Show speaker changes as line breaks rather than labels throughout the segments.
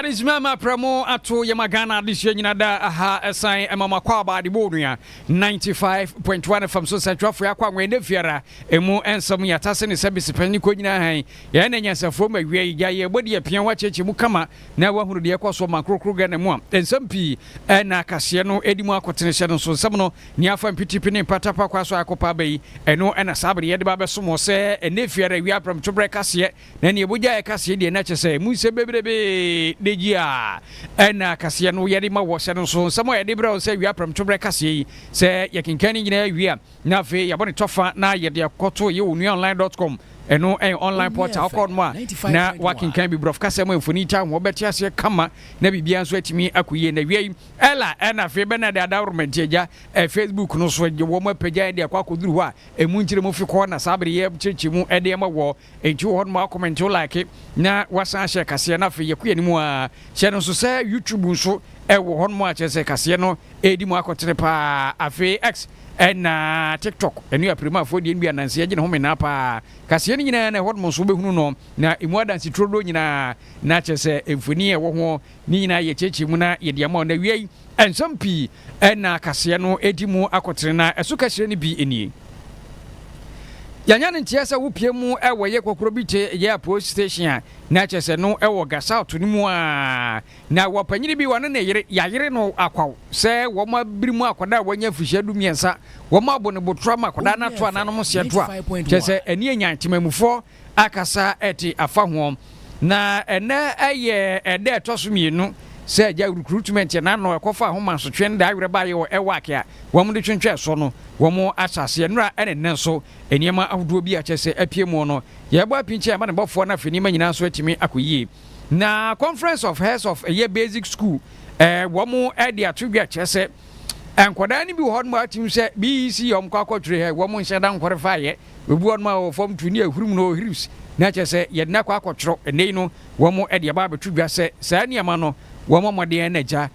adesua ma aprɛ mo ato yɛma ghana adesua nyina da aha ɛsan ɛma mo akɔ aba adebɔ onua 95.1 fam so nsɛntwerɛfoɔ yɛ akɔ anwɛ ɛnɛ fiara ɛmu ɛnsɛm yɛ atase ne sɛ besipɛn ne kɔ nyina han yɛn na nyansafoɔ ma awia yi gya yɛ bɔdi apia ho akyɛkyɛ mu kama na wahunu deɛ ɛkɔ so ma nkorokoro ghana mu a nsɛm pii ɛna akaseɛ no ɛdi mu akɔtenehyɛ no nso nsɛm no Nea afa mpitipi ne mpata pa kwa so a ɛkɔpa aba yi, ɛno na saa bere yi yɛde ba abɛsom wɔ sɛ ɛnnɛ efi ara awia prɛmto berɛ kaseɛ, na nea ɛbɔ gya yɛ kaseɛ deɛ na kyerɛ sɛ ɛmu nsɛm bebrebe da gyi a ɛnna kaseɛ no yɛde ma wɔ sɛ no nso nsɛm a yɛde brɛ wo sɛ awia prɛmto berɛ kaseɛ yi sɛ yɛkenkan ne nyinaa wie a na afei yɛabɔ ne tɔfa na yɛde akɔto yɛ onua online dot com ɛno ɛyɛ online portal wokɔ no a na wakenkan bi borɔfo kasɛm a mfoni taa ho wɔbɛte aseɛ kama na biribiara nso atumi akɔ yie na awia yi Ella ɛna afei bɛ na ɛde adawromɛnte agya ɛ Facebook no so gye wɔn apagya ɛde akɔ akɔduru hɔ a ɛmu nkyerɛ mu fi kɔ na saa bere yi yɛ kyerɛkyerɛ mu ɛde ɛma wɔ ɛnti wɔ hɔ nom a wɔkɔmɛnte wo like na wasan ahyɛ ɛkaseɛ na afei yɛkɔ yɛnim aa hyɛ no nso sɛ YouTube nso ɛwɔ hɔ nom a kyerɛ sɛ ɛkaseɛ no ɛredi mu akɔtene paa afei X ɛna TikTok ɛno yɛ apiremaafoɔ deɛ nbi ananse agye ne ho menaa paa kaseɛ no nyinaa na ɛhɔ nom nso wobɛhunu no na ɛmu adanse turo doɔ nyinaa na kyerɛ sɛ mfoni a ɛwɔ ho Ne nyinaa yɛ kyerɛkyerɛ mu na yɛde ama wo na wia yi nsɛm pii na kaseɛ no di mu akɔtene na ɛso kɛseɛ no bi nie. Yɛanya no nteɛ sɛ wo pie mu wɔ yɛ kɔkorɔ bi te yɛ apoe station a na ɛkyɛ sɛ no wɔ ga south no mu a na wɔ panyini bi wɔne ne yere yɛayere no akwaw sɛ wɔn abiri mu akwadaa a wɔanya mfirihyia du mmiɛnsa wɔn abɔ ne botorɔ ama akwadaa no ato ananom seɛ to a kyɛ sɛ ɛne anyan temamufoɔ akasa te afa ho. Na ɛnnɛ yɛ ɛda a ɛtɔ so mmienu sɛ Agya Awurukuru tumi nteɛ n'ano ɛkɔfa ahomasotwe no de awerɛ baeɛ wɔ Ewak a wɔde twentwɛn soɔ no wɔn asaseɛ nnora ne nnɛ nso nneɛma ahodoɔ bi a kyerɛ sɛ apue mu no. Yɛrebɔ apinkyɛn ama ne bɔfoɔ no afei nneɛma nyinaa nso atumi akɔ yie. Na Conference of Heads of ɛyɛ Basic School ɛɛ wɔn de ato dwa kyerɛ sɛ nkwadaa no bi wɔ hɔ nom a wotumi hu sɛ BEC a wɔkɔ akɔtwerɛ ha yi wɔn nhyɛ da nkɔre faeɛ. Ebi wɔ hɔnom a wɔwɔ fam tu ne ahuru mu no, hyrubs, na kyerɛ sɛ yɛde no akɔ akɔtwerɛ. Ɛnnɛ yi no, wɔde aba abɛto dwa sɛ saa nneɛma no, wɔmmɔ mmɔden na agya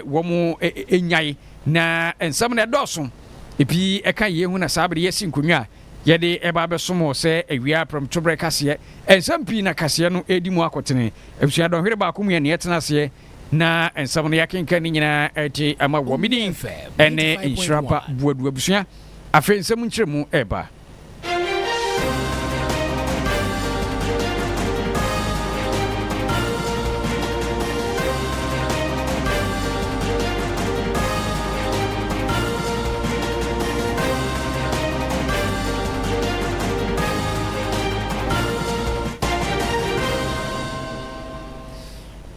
wɔnnyae. Na nsɛm no dɔɔso. Ebi ka yei ho na saa bere yɛasi nkonnwa a yɛde reba abɛsom wɔ sɛ awia prɛmtoberɛ kaseɛ. Nsɛm pii na kaseɛ no redi mu akotene. Abusua dɔnhwere baako mu yɛ nea ɛtena aseɛ na nsɛm no yɛakenkan ne nyinaa te ama wɔ. Medin ne Nhyira Ba Boadu. Abusua. Afei nsɛm nkyerɛmu reba.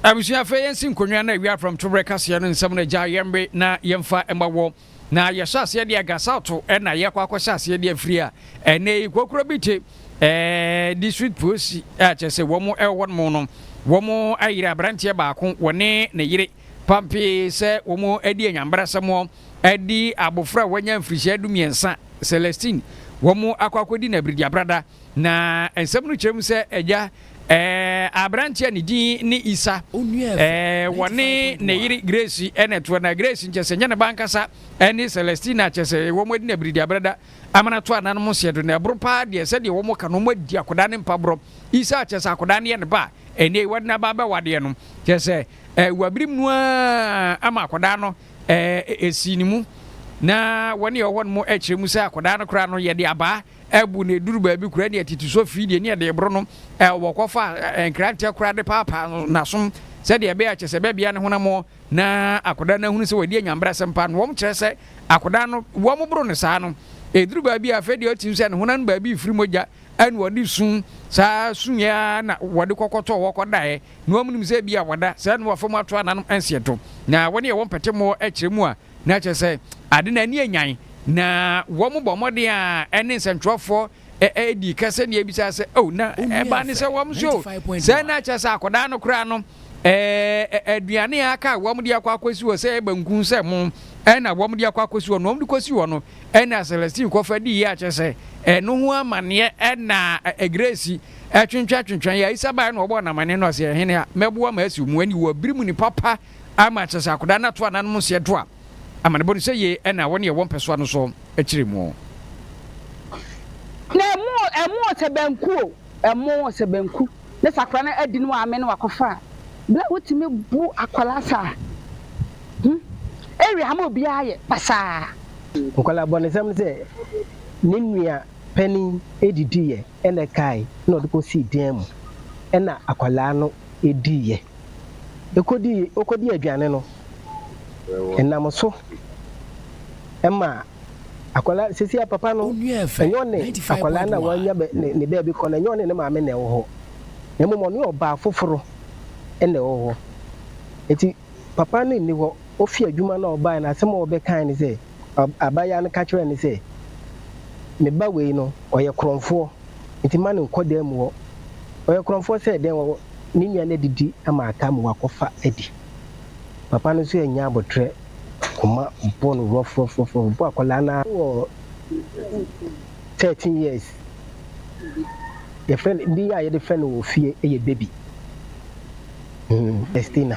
abusua afei yɛnsi nkonnwa na awia aprɔmtoberɛ kaseɛ no nsɛm no agya yɛmbe na yɛmfa mma wɔ Na yɛhyɛ aseɛ de Agasato na yɛkɔ akɔhyɛ aseɛ de afiri a ɛnɛ yi kokuro bi te ɛɛ district polisi a kyerɛ sɛ wɔn ɛwɔ nom no wɔn ayere aberanteɛ baako wɔne ne yere pampee sɛ wɔn adi anyambrasɛm ɛde abofra a wanya mfirihyia du mmiɛnsa Celestine wɔn akɔ akɔdi no abiridiabrada na nsɛm no kyerɛ mu sɛ agya Aberanteɛ a ne din ne Isa. Wɔne ne yere Grace na ɛtoa na Grace nkyɛ sɛ nyɛ ne ba ankasa ne Celestina kyɛ sɛ wɔn adi na biridi abrada amana to ananom nseɛ do na ɛboro paa deɛ sɛdeɛ wɔn ka no wɔn adi akwadaa ne mpaborɔ Isa kyɛ sɛ akwadaa no yɛ ne ba ɛnneɛ yi wɔde n'aba abɛwadeɛ no kyɛ sɛ wabirim no ara ama akwadaa no ɛsi ne mu na wɔne ɔwɔ no mu kyerɛ mu sɛ akwadaa no koraa no yɛde abaa abu na eduru baabi koraa ne atiti so fi deɛ ne yɛde reboro no, wɔkɔfa nkrantɛ koraa de paapaa n'asom sɛdeɛ ɛbɛyɛ a kyɛ sɛ bɛbea ne honam na akwadaa no ahunu sɛ wadi anyanbrasɛm pa no wɔn kyerɛ sɛ akwadaa no wɔn boro no saa no eduru baabi a afei deɛ ɔte sɛ ne honam no baabi firi mogya ɛna wɔde sun saa sun yɛ na wɔde kɔkɔtɔ wɔkɔdaeɛ na wɔn nim sɛ ebi a wɔda sɛ ɛna wɔfam ato ananom nseɛto na wɔn yɛ wɔn pɛtɛmɔ ɛkyerɛ mu a Na kyerɛ sɛ, ade no ani anyan, na wɔbɔ mmɔden a ɛne nsɛntwerɛfoɔ dii ka sɛdeɛ ɛbisaa sɛ, Oh, na ɛbaa ne sɛ wɔn nso, sɛ na kyerɛ sɛ akwadaa no koraa no, eh, aduane a aka a wɔde akɔ akɔsi hɔ sɛ banku sɛ mo, ɛna wɔde akɔ akɔsi hɔ no, wɔde kɔsi hɔ no, ɛna Celestine kɔfa dii yɛ akyerɛ sɛ, ɛno ho amanneɛ ɛna Grace ɛtwentwɛntwentwɛn yɛ, Isabel na ɔbɔɔ no amanneɛ na ɔsɛ, Ɛhene a, mɛboa ma asiw mo ani wɔ bere mu ne papa. Ama kyerɛ sɛ akwadaa no ato ananom nseɛ do a, amanebɔ no sɛ yie ɛna wɔn yɛ wɔn pɛsoa no so akyire muo.
Na ɛmo ɛmo sɛ banku o, ɛmo sɛ banku ne sɛ akwadaa no adi ne w'ame ne w'akɔfa a, berɛ a wotumi bo akwadaa saa hmm, ɛwɛ ama obiara yɛ pasaa. Nkwadaa
bɔnesɛm ne sɛ ne nua panin didi yɛ. Ɛna ɛkae na ɔde kɔsii dan mu ɛna akwadaa no diiɛ. Ɛkɔdii ɔkɔdii aduane no ɛnam so ɛma akwadaa seesei a papa no ɛnyɛ ɔne akwadaa no a wanya bɛ ne ne baabi kɔ no ɛnyɛ ɔne ne maame na ɛwɔ hɔ na mmom ɔne ɔbaa foforo ɛna ɛwɔ hɔ. Ɛti papa no nni hɔ ɔfiri adwuma no a ɔbaeɛ no asɛm a ɔbɛkae ne sɛ. Ɔbabaa no ka kyerɛɛ no sɛ, Me ba wei no, ɔyɛ korɔmfoɔ, enti mma no nnkɔ dan mu hɔ. Ɔyɛ korɔmfoɔ sɛ dɛn? Ɔwɔ ne nua no adidi ama aka ma wakɔfa adi. Papa no nso annya aboterɛ, koma bɔɔ no rɔfrɔfrɔfrɔ. Ɔbɔɔ akwadaa no ara wɔ thirteen years. Yɛfrɛ no, din a yɛde frɛ no wɔ fie yɛ Baby. Celestina.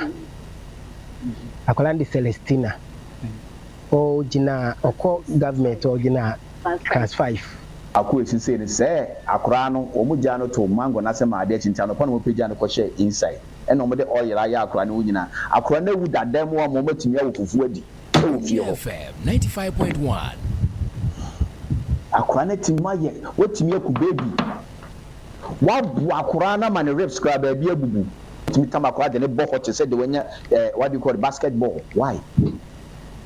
Akwadaa no de Celestina. Ɔgyinaa ɔkɔ government a ɔgyinaa class five. Akua si sei
no sɛɛ akoraa no wɔn gyaa no too mango no ase maa adeɛ kye nti anɔpa na wɔn pagyaa no kɔ hyɛɛ inside ɛna wɔn de oil ayɛ akoraa no ho nyinaa akoraa no awu dadaa mu ama wɔn atumi awo fufuo adi ɛwɔ fie hɔ. FM ninety five point
one.
Akoraa no atumi ayɛ watumi aku baby waboa akoraa no ama ne rips koraa baabi abubu tumi tam akoraa de no bɔ hɔ te sɛ deɛ wanya ɛɛ what do you call it basketball why.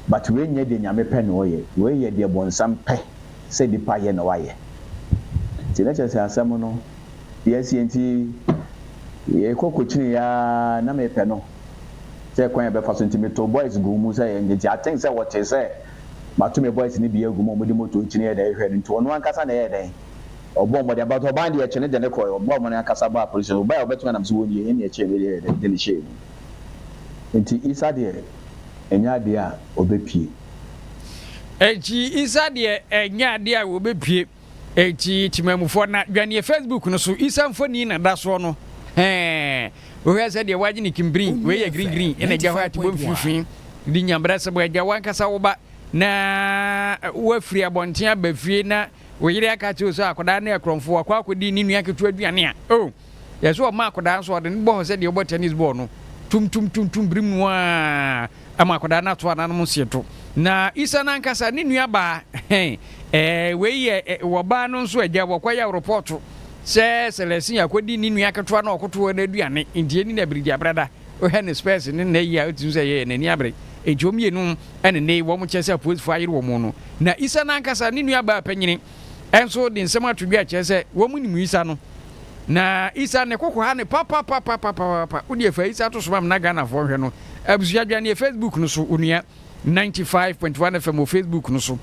but wei nyɛ deɛ Nyame pɛ na ɔyɛ, wei yɛ deɛ bonsam pɛ sɛ nipa yɛ na wayɛ. Nti na kyerɛsɛ asɛm no deɛ asie nti yɛkɔ kɔkyini yɛ ara na mepɛ no sɛ kwan a yɛbɛfa so nti metoo boys guu mu sɛ yɛnyɛ nti I think sɛ wɔtee sɛ mato me boys no bi agu mu a wɔde motor kyini yɛ dɛn hwehwɛ no nti ɔno ankasa na ɛyɛɛ dɛn ɔbɔɔ mmɔden but ɔbaa no deɛ ɛkyɛ no de no kɔeɛ ɔbɔɔ mmɔden ankasa baa police station ɔbaeɛ a ɔbɛto me nam sɛ wɔnnie ɛnna ɛkyɛɛ no deɛ ɛyɛɛ dɛn de no hyɛɛ mu nti Isa deɛ ɛnyɛ adeɛ a wɔbɛpue.
Enti Isa deɛ ɛnyɛ adeɛ a wɔbɛpue. Enti Temanmufoɔ na dwaneɛ Facebook no so Isa mfoni na da soɔ no hɛɛ wohwɛ sɛ deɛ wagye ne kimbri wei yɛ green green ɛna gya hɔ a tibɔ mfimfini di nyabrasɛm agya wankasa wo ba na wafiri abɔnten aba fie na wo yere aka kyerɛ sɛ akwadaa no yɛ korɔmfo wakɔ akɔdi ne nua ketewa aduane a oh Yɛ so ɔma akwadaa nso a, ɔde no bɔ hɔ sɛdeɛ wobɔ tennis bɔɔl no, tum tum tum tum brim no ara ma akwadaa no ato ananom nsiento. Na Isa no ankasa, ne nua baa, hɛn, ɛɛ, wei yɛ, ɛ, wɔ baa no nso agya, wɔkɔ yɛ repɔɔto sɛ Sɛlɛsin akɔdi ne nua ketewa no a ɔkoto hɔ no aduane, nti ɛni na birigya brada, wohwɛ ne spɛɛse ne nnɛ yi a, wotim sɛ yɛɛ n'ani abere. Nti wɔn mmienu ɛne nnɛ yi wɔn kyɛ sɛ apolisfoɔ ayere wɔn no. Na Isa no ankasa, ne nua baa panyini. nso de nsɛm ato dwa kyerɛ sɛ wɔnim Isa no. Na Isa ne koko ha ne papapapapapapa. Wo deɛ fa Isa to so ma na Ghanafoɔ nhwɛ no. Abusua dwaneɛ Facebook no so onua 95.1 FM wɔ Facebook no so.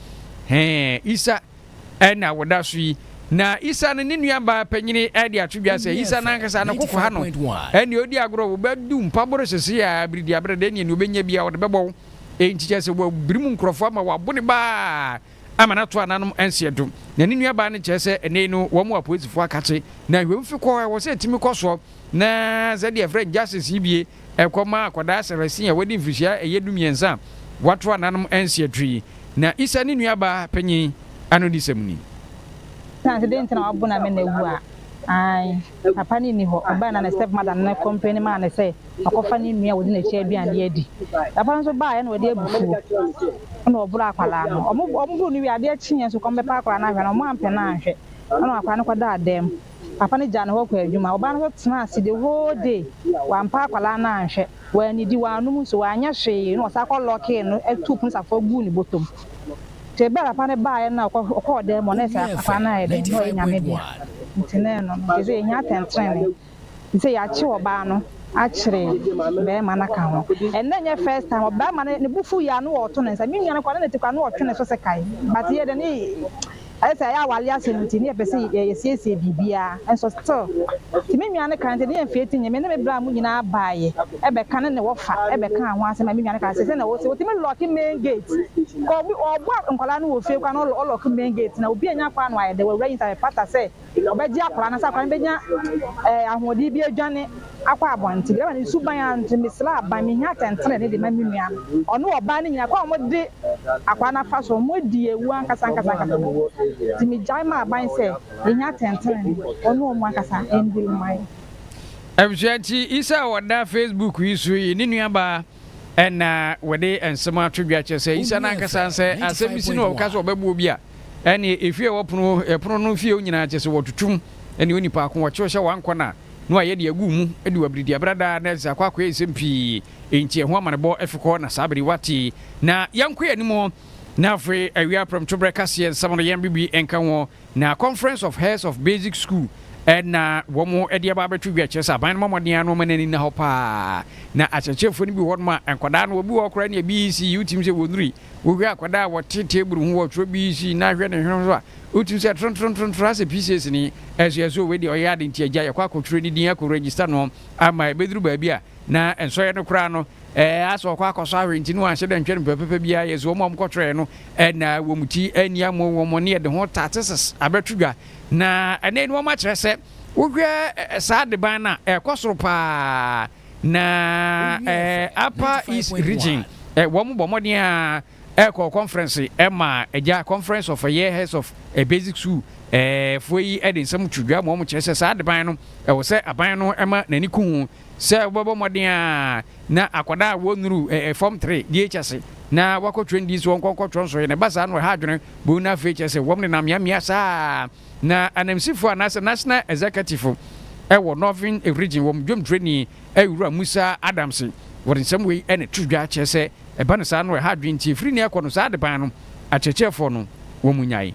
Hɛn Isa ɛna wɔda so yi. Na Isa no ne nua baa panyini ɛde ato dwa sɛ Isa nankasa ne koko ha no. Ɛne odi agorɔ wo bɛdu mpaboro sese a abiridi abrɛ dɛ ne nea obɛnya bi a wɔde bɛbɔ wo. Enti kyerɛ sɛ wɔabirim nkurɔfoɔ ama wɔabo ne baa. Ama no ato ananom nseɛ do. Na ne nuabaa no kyerɛ sɛ ɛnɛ yi no wɔn mu apolisifo akakye na hwɛm fi kɔ ɛwɔ sɛ ɛtumi kɔ soɔ na sɛ deɛ yɛfrɛ Justice yi bie ɛkɔ ma akwadaa Sarasin a wadi mfirihyia a ɛyɛ du mmiɛnsa a wato ananom nseɛ do yi na Isa ne nuabaa panyin anodisɛm ni. Na sɛ
dɛn nti na w'abonamɛn awu a? Ae, papa no nni hɔ. Ɛbae no a ne stepmother no no complaini maa no sɛ. wakɔfa ne nua a ɔdi n'akyi aduane de adi. Papa no nso baeɛ na ɔde abufuo na ɔboroo akwadaa no. Wɔboroo no wie a, adeɛ kyeeɛ nso kɔmbɛpɛ akwadaa no ahwɛ no, wɔampɛ no anhwɛ na akwadaa no kɔdaa dan mu. Papa no gyaa no hɔ kɔɔ adwuma. Ɔbaa no nso tenaa ase the whole day, wampɛ akwadaa no anhwɛ, wannidi, wannom nsuo, wanyɛ hwee na ɔsan kɔ lɔɔkee no tuu pono safoa guu ne bɔtɔ mu. Nti ɛberɛ a papa no baeɛ no a ɔkɔɔ dan mu a, na ɛsɛ akwadaa no ayɛ dɛn? Na ɔyɛ Nyame dea. Nti na ɛno no, nti ɛsɛ sɛ yɛnya atɛntenenee. Te sɛ yɛakyew ɔbaa no akyere barima no aka ho. Ɛnnɛ nyɛ first time ɔbarima no ne bo fuw yɛ a na ɔɔto ne nsa. Me nua no koraa na ne ti koraa na ɔɔtwe ne so sɛ kae. But yɛ de ne ayɛ sɛ ɛyɛ aware asɛm nti ne yɛpɛ sɛ yɛsiesie biribiara nso still. Nti me nua no kaa nti ne yɛ mfeɛ ti nyɛ me ne me bra mu nyinaa baeɛ ɛbɛka ne ne wɔfa ɛbɛkaa ho asɛm a me nua no kaa sɛ sɛnea ɔsi ɔtumi lɔke main gate kɔ ɔɔbɔ nkwadaa no wɔ fie koraa na ɔlɔke main gate na obi nnya kwan no ayɛ dɛ w'awura yi nsa bɛpata sɛ Ɔbɛgye akwadaa no, sɛ akwadaa no bɛnya ahoɔden bi adwane akɔ abɔnten. Drɛma no suban ara nti, mesrɛ aban, mehia atɛntrenee de ma me nua no. Ɔne wɔbaa no nyinaa, kwan a wɔde akwadaa no afa so, wɔadi awu ankasa ankasa ankasa mu. Nti megyae maa aban sɛ, yɛhia atɛntrenee, wɔne wɔn ankasa ndil mma yɛn. Abusua
nti, Isao ɔda Facebook yi so yi ne nuabaa Ɛna wɔde nsɛm ato dwa kyerɛ sɛ Isa no ankasa sɛ asɛm si no wɔka sɛ ɔbɛbɔ obi a, ɛneɛ efie a wɔpono hɔ, ɛpono no fie hɔ nyinaa kyerɛ sɛ wɔtutum ɛne onipa ko, wɔkyew hyɛ wankɔ no a, na wɔayɛ de agu wo mu de wabiridi abra daa na ɛsɛ akɔ akɔyɛ nsɛm pii, enti ɛho amanebɔ fi kɔ na saa bere wate. Na yɛnkɔ yɛn anim, na afei awia prɛmtoberɛ kaseɛ nsɛm no yɛn biribi nka ho. Na Conference of Heads of Basic School na wɔde aba abɛto dwa, kyerɛ sɛ aban no mmɔ mmɔden ara na wɔmma n'ani nna hɔ pa ara. Na akyerɛkyerɛfoɔ no bi wɔ hɔnom a, nkwadaa no, obi wɔ hɔ koraa nea BEC yɛ, wotumi sɛ wɔnuri. Wohwɛ akwadaa a wɔte table ho, wɔtwerɛ BEC na hwɛ ne hwene ho so a, wotumi sɛ trontrontrontrontro asɛ pieces ni. Ɛsɛ sɛ yɛsɛ sɛ wei deɛ ɔyɛ ade nti agya yɛkɔ akɔtwerɛ ne din akɔ register no ama ɛbɛduru baabi a, Na nsɔeɛ no koraa no, ɛɛ asɛ ɔkɔ akɔsɔ ahwɛ nti no anhyɛ da ntwa no pɛpɛpɛ biara yɛ sɛ wɔn a wɔn kɔtwerɛɛ no na wɔn ti anni amu wɔn ne ɛde ho tatesis abɛto dwa na ɛnɛ no wɔn akyerɛ sɛ wohwɛ saa adeban no a ɛkɔ soro paa na ɛɛ apa east region wɔn bɔ mmɔden a ɛkɔ conference ɛma ɛgya conference of ɛyɛ heads of a basic school ɛɛ foɔ yi ɛde nsɛm to dwa ma wɔn kyerɛ sɛ saa adeban no ɛwɔ sɛ aban no ɛma n'ani ko ho. Sɛ wobɛbɔ mmɔden ara na akwadaa a wɔnnuru fam tre deɛ ɛkyɛ se na wɔakɔ twerɛ ndi nso wɔnkɔnkɔ twerɛ nso ɛ. Na ɛba saa no ɛha adwene buu na afei kyerɛ sɛ wɔn nenam mmeammea saa ara na ananmusifoɔ anaasɛ National Executive wɔ Northern Region wɔn dwomtwerɛni Awuraa Musa Adams wɔde nsɛm wei na ɛto dwa kyerɛ sɛ ɛba no saa no ɛha adwene nti ɛfiri nnɛ rekɔ no saa adebaa no akyerɛkyerɛfoɔ no wɔn nyae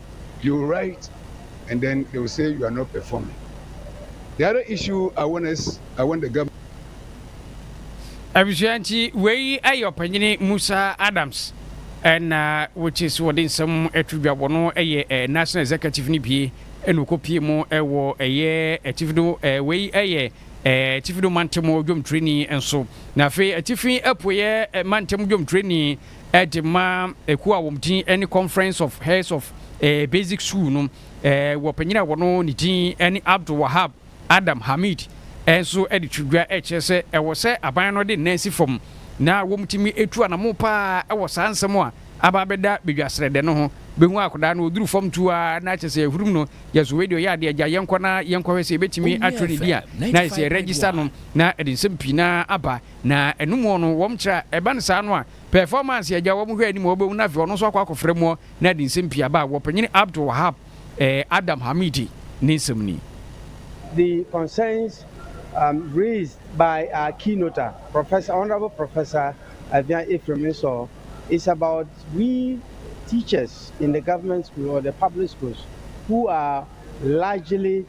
You will write and then they will say you are not performing. The other issue I want us, I want the government. Abusua
nti wei ayɛ ɔpanyini Musa Adams ɛna wɔkyi so wɔde nsɛm ɛto dwa wɔn ɛyɛ eh, National Executive no bie ɛna ɔkɔ pie mu ɛwɔ ɛyɛ atifi do eh, wei ɛyɛ eh, atifi do mantam dwomtreni nso na afei atifi apueɛ mantam dwomtreni de ma ɛkuo a wɔn din ne Conference of Heads of eh, Basic School no eh, wɔ panyin a wɔno ne din ne Abdul Wahab Adam Hamid eh, nso de to dwa eh, kyerɛ sɛ ɛwɔ sɛ aban no de nnan si fam na wɔtumi etu anamo paa ɛwɔ saa nsɛm a aba abɛda badwa srɛdɛ no ho bɛhu akwadaa no ɔduru fam tu a na kyɛ sɛ ɛhurum no yɛ so wei deɛ ɔyɛ adeɛ agya yɛnkɔ na yɛnkɔhwɛ sɛ yɛbɛtumi atwerɛ ne di a na yɛ sɛ yɛregister no na ɛde nsɛm pii na aba Na ɛno muɔ no wɔn kyerɛ a, ɛba no saa no a, performance a agya wɔn hwɛ anim a wɔbɛhu no afei ɔno nso akɔ akɔfrɛ muɔ na ɛde nsɛm pii aba a, wɔ Panyini Abdul Wahab Adam Hamidi ne nsɛm ni. The
concerns um raised by our keynoter, Professor, Honourable Professor Avian Ephraim Nsor, is about we teachers in the government school or the public schools who are largely.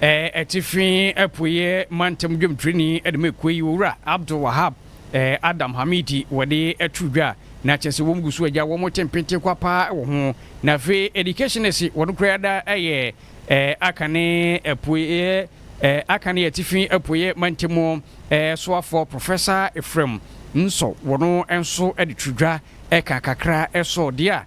Atifi Apueɛ Mantam Dwomtoni de ma ekuo yi, Owura Abdul Wahab Adam Hamiti wɔde to dwa, na kyerɛ sɛ wɔn gu so agya wɔn te mpete kwa paa wɔ ho. Na afei Educationist wɔn koraa da yɛ Akane Apueɛ, Akane Atifi Apueɛ Mantam Soafoɔ Professor Ephraim Nso wɔn nso de to dwa ka kakra sɔ deɛ a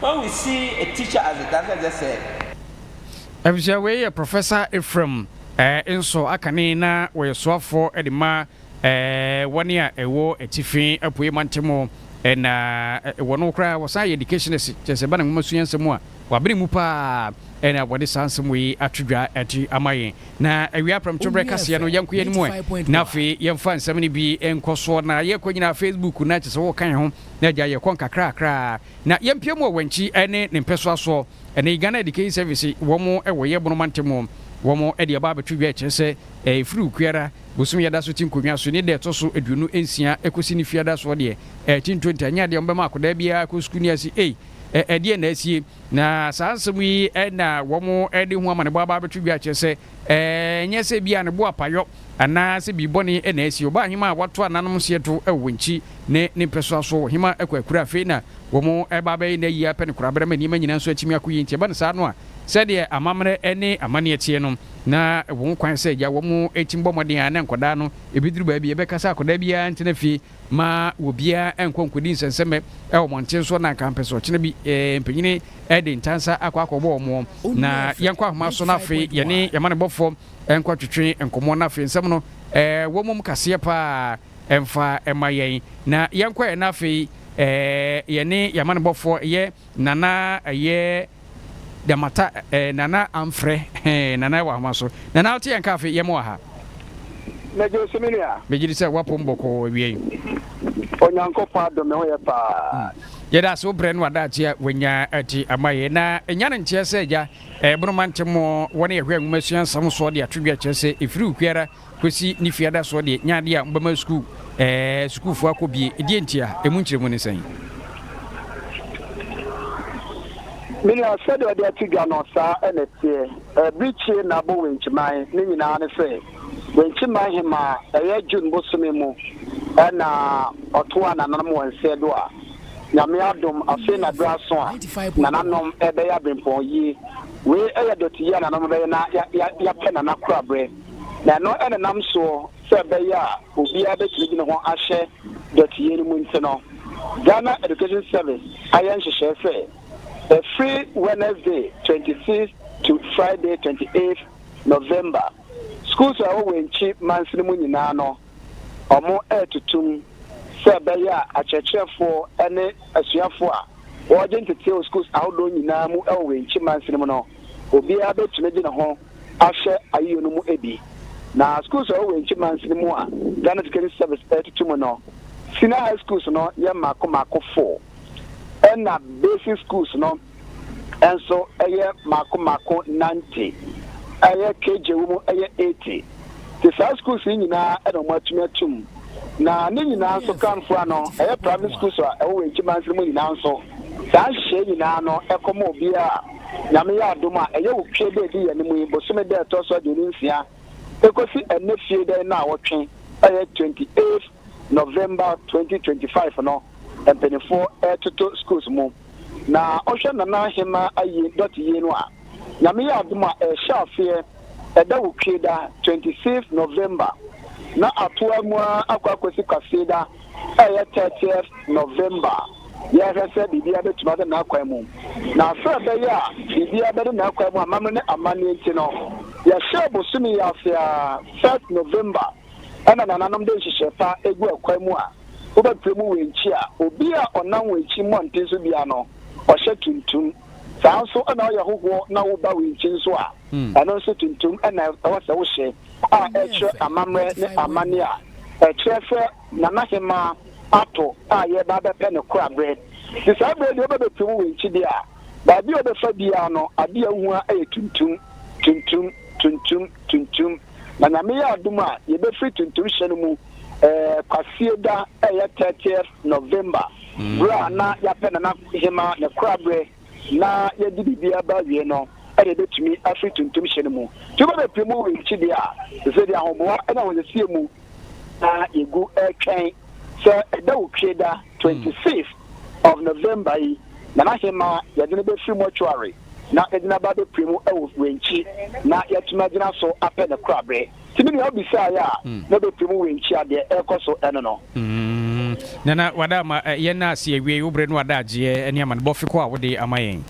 When we see a teacher as a does not just say. Abusua
wei yɛ Professor Ephraim eh, nso akane na wɔyɛ soafoɔ de ma eh, wɔne a ɛwɔ atifi apuei mantamu eh, na eh, wɔn koraa wɔsan yɛ educationist kyerɛ sɛ ba na nwoma sua nsɛm a wɔabene mu paa eh, na wɔde saa nsɛm wei ato dwa ati ama yɛn na awia prɛmto berɛ kaseɛ no yɛnko yɛn mu ɛ na afei yɛmfa nsɛm no bi nkɔ soɔ na yɛkɔ nyinaa Facebook na kyerɛ sɛ wɔka yɛn ho Na agya yɛkɔ nkakrakra na yɛmpia mu wɔ wankyi ne ne mpɛsoa soɔ ɛne Ghana Education Service wɔn wɔ yɛ bono mante mu wɔn de aba abɛto dwa ɛkyerɛ sɛ ɛfiri okuara bosom yɛda so te nkonnwa so ne da ɛtɔ so aduonu nsia ɛkɔsi ne fiada soɔ deɛ ɛte ntonta nyɛ adeɛ wɔbɛma akwadaa biara kɔ sukuu ne ase ei ɛdeɛ na asie Na saa nsɛm yi na wɔde ho amanebɔ aba abɛto dwa akyerɛ sɛ ɛnyɛ sɛ ebia ne bo apayɔ anaa sɛ biribi bɔne na asi. Ɔbaa hema a wɔato ananom hyeɛ to wɔ wɔn akyi ne ne mpɛsoa soɔ wɔ hema kɔ akura. Afei na wɔreba abɛyɛ no ayie ara pɛ ne koraberɛ ma nneɛma nyinaa nso atumi akɔ yie. Enti ɛba no saa no a, sɛdeɛ amammerɛ ne amanneɛ teɛ no, na ɛwɔ ho kwan sɛ agya wɔn tumi bɔ mmɔden ara na nkwadaa no, ɛbɛduru baabi a ɛbɛka sɛ akwadaa biara ntena fie. Mma obiara nnkɔ nnkɔdi nsɛnsɛmɛ wɔ mmɔnten so, na anka mpɛ sɛ ɔkyena bi mpanyini de ntansa akɔ akɔbɔ wɔn. Na yɛnkɔ ahoma so na afei yɛne yɛn amanebɔfoɔ nkɔtwetwe nkɔmmɔ, na afei nsɛm no wɔmmom kaseɛ pa ara mfa mma yɛn, na yɛnkɔɛ na afei yɛne yɛn amanebɔfoɔ yɛ. Nana ɛyɛ da mata eh, Nana amfrɛ eh, Nana ɛwɔ ahoma so Nana wote yɛn ka afe, yɛn wɔ ha. Mɛgye
wo so me nua. Megye di sɛ woapo me
bɔkɔɔ awie yi.
Onyankopɔn adom me ho yɛ paa. Yɛda ase wo brɛ
ne w'adaakye a wanya ati ama yɛn. Na ɛnya ne nteɛ sɛ agya ɛbono ma nte mo wɔ ne yɛhwɛ nwomasua nsɛm soɔ de ato dwa kyerɛ sɛ ɛfiri obiara Kwesi ne fie adasoɔ deɛ nyɛ adeɛ a mobɛma sukuu ɛɛ sukuufoɔ akɔ bie. Ɛdeɛ ntia? Ɛmu nkyerɛmu ne sɛn?
Me nua, sɛdeɛ ɔde ato dwa no, saa na ɛteɛ. Ɛbirikyie na abɔ Wenkyiman, ne nyinaa ne sɛ, Wenkyiman hemaa, ɛyɛ June bosome mu na ɔtoaa nananom wɔ nseɛ do a, Nyame adom, afei na berɛ aso a nananom bɛyɛ abenpɔn yie. Wei yɛ dɔteyie a nananom bɛyɛ na yɛapɛ nana koraberɛ. Na ɛno nenam soɔ sɛ ɛbɛyɛ a obiara bɛtumi de ne ho ahyɛ dɔteyɛ no mu nti no, Ghana Education Service ayɛ nhyehyɛɛ sɛ ɛfiri Wednesday twenty sixth to Friday twenty eighth November, schools a ɛwɔ Wenchi mansini mu nyinaa no, wɔretutum sɛ ɛbɛyɛ a akyerɛkyerɛfoɔ ne asuafoɔ a wɔregye ntetee wɔ schools ahodoɔ nyinaa mu wɔ Wenchi mansini mu no, obiara bɛtumi de ne ho ahyɛ ayiyɛ no mu bi. Na skuls a ɔwɔ Wenchi Mansi no mu a Ghana Education Service ɛretutu mu no, Senior High Skuls no yɛ mmaako mmaako four, ɛna Basic Skuls no nso yɛ mmaako mmaako nante, ɛyɛ KJ wɔ mu yɛ eighty. Nti saa skuls yi nyinaa na wɔn atumi atum. Na ne nyinaa nso kanfo ano, ɛyɛ Primary Skuls a ɛwɔ Wenchi Mansi no mu nyinaa nso, saa nhyehyɛe nyinaa no ɛkɔma obiara a Nyame yɛ adom a, ɛyɛ wo fie da edi yɛ no mu yi bosome da ɛtɔ so aduonu nsia ekosi ɛnnɛ fie da nnaawɔtwe ɛyɛ twenty eighth November twenty twenty five no mpaninfoɔ ɛɛtoto schools mu na wohwɛ Nana Ahemaa ayie dɔte yie no a Nyame yɛ adom a ɛɛhyɛ aseɛ ɛda wo fie da twenty sixth November na atoa mu ara akɔ akosi kwasie da ɛyɛ thirtieth November, yɛrehwɛ sɛ biribiara bɛtumi ada n'akwan mu. Na sɛ ɛbɛyɛ a biribiara bɛda n'akwan mu amammerɛ ne amanneɛ nti no, yɛhyɛɛ bosome yi ase ara, first November, ɛna nananom de nhyehyɛe pa gu akwan mu a wobɛpere mu wɔ nkyi a obi a ɔnam wɔ nkyi mmɔnten so biara no, ɔhyɛ tuntum. Saa ara nso na woyɛ hohoɔ na woreba wɔ nkyi nso a, ɛno nso tuntum na ɛwɔ sɛ wohyɛ. a ɛkyerɛ amammerɛ ne amanne a ɛkyerɛ sɛ Nana Hemaa ato a yɛreba abɛpɛ no koraberɛ. Nti saa berɛ yi deɛ wobɛbɛpue mu wenkye deɛ a, baabi a wobɛfa biara no adeɛ a wohu ara yɛ tuntum, tuntum, tuntum, tuntum. Na Nyame yɛ adom a, yɛbɛfiri tuntum hyɛ no mu ɛɛ Kwasieda a ɛyɛ 30th November, berɛ a na yɛapɛ Nana Hemaa ne koraberɛ. na yɛde biribiara ba awiei no na yebetumi afiri tuntum hyɛ no mu. Sɛ obi bepue mu wɔ yɛn akyi a, ɛsɛ sɛ yɛde ahoboa ne ahosiesie mu na yegu retwɛn. Sɛ ɛda wɔ Kwieda twenty fifth of November yi, Nana Hemmaa, yɛde no befiri mortuary na yɛde no aba abepue mu wɔ w'ankyi na yɛatumi agyina so apɛ ne koraberɛ. Sɛnea wobisaeɛ a, mobɛpue mu wenkyia deɛ ɛrekɔ so ɛno no. Nana
wada ama yɛn na se awiei wo bere no ada agyeɛ ɛne amanebɔ fekɔ a wode ama yɛn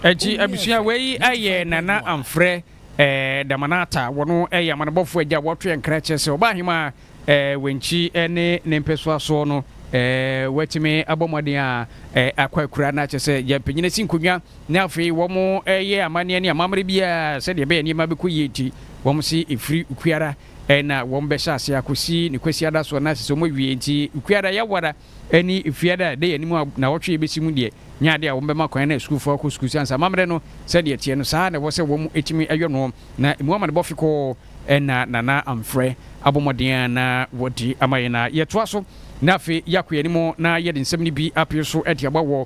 akyi abusua wei ayɛ Nana Amfrɛ eh, Damanata wɔno ɛyɛ amanebɔfoɔ agya wɔto yɛn kra kyerɛ sɛ ɔbaa hemaa eh, w'ankyi eh, ne ne mpɛsoa soɔ no eh, w'atumi abɔ mmɔden a eh, akɔ akura no akyɛ sɛ yɛmpanyina si nkonnwa ne afei wɔn eh, yɛ amanneɛ ne amammerɛ biara sɛdeɛ ɛbɛyɛ nneɛma bɛkɔ yie nti wɔn se ɛfiri ukuara eh, na wɔn bɛhyɛ ase akɔsi ne kwasiada soɔ na asɛ sɛ wɔn awie nti ukuara yɛwara ɛne fiada a ɛda yɛn anim a nnawɔtwe yi bɛsi mu deɛ, nyɛ adeɛ a wɔbɛma kwan na asukuufoɔ akɔ sukuu sɛ ansa amammerɛ no sɛdeɛ ɛteɛ no, saa ara na ɛwɔ sɛ wɔtumi yɔ noɔ, na ɛmu amanebɔ fekɔɔ na Nana Amfrɛ abɔ mmɔden ara na wɔde ama yɛn na yɛtoa so, na afei yɛakɔ yɛn anim na yɛde nsɛm no bi apee so de aba wɔ.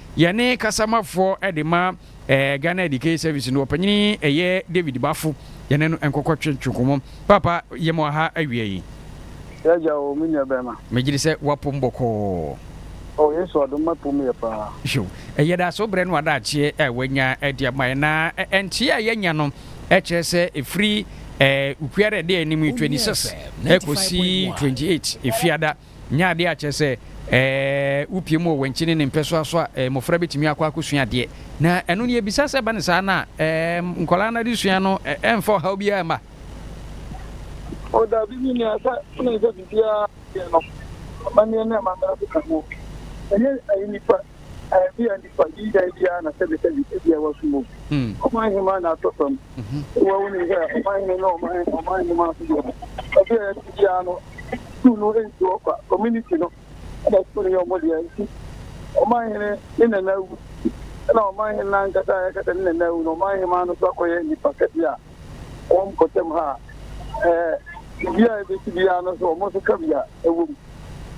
Yɛne kasamafoɔ de ma ɛɛ Ghana Education Service no ɔpanyini ɛyɛ David Bafo yɛne no nkɔkɔ twe twe nkɔmɔ paapa yɛ mo aha awia yi. Yagya o
me nua bɛɛma. Me gyiri sɛ wa pom
bɔkɔɔ. Oh Yesu
adom ma pom yɛ paa. Hyew. Yɛda
so brɛ no adagyeɛ a wanya de ama yɛn. Na nteɛ a yɛanya no kyerɛ sɛ ɛfiri ɛɛ Ukwiara ɛde anim 26 ɛkɔsi 28 Efiada. Nyɛ adeɛ a kyerɛ sɛ wopie mu wɔ wankyini ne mpɛsoa so a mmɔfra bɛtumi akɔ akɔsua adeɛ. Na ɛno no yɛbisa sɛ ɛba no saa no a nkwadaa no adesua no ɛmfa ɔhaw biara mma.
O dabi, me nua, sɛ tene sɛ biribiara yɛ no, amanneɛ ne amammerɛ so ka ho. Ɛnyɛ ayi nipa Ebia nnipa dunan bi ara na sɛbesɛbe ebia wɔaso mu. Ɔman hemmaa na atɔ fam. Wɔ wonim sɛ ɔman hene ne ɔman ɔman hemmaa so deɛ ɔbea yɛ ti biara no sukuu no nti hɔ kwa community no ɛna sukuu no yɛ ɔmo deɛ nti ɔman hene ne nana awu ɛna ɔman hene no ankasa a yɛkasa ne nana awu no ɔman hemmaa no so akɔyɛ nipa kɛse a kɔ mpɔtam ha a, sɛ biribiara a ebesi biara no nso, wɔn nso ka bi a ɛwɔ mu.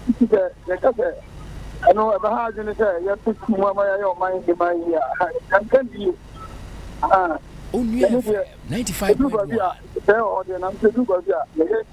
Enti sɛ yɛka sɛ ɛno ɛbɛha adwene sɛ yɛto ti mu ama yɛayɛ ɔman yi man yi a, ɛnka bi yie. Aha. Onua FM ninety five point
one. Ɛduru baabi a, sɛ ɛwɔ hɔ deɛ,
nanso ɛduru baabi a, yɛyɛ.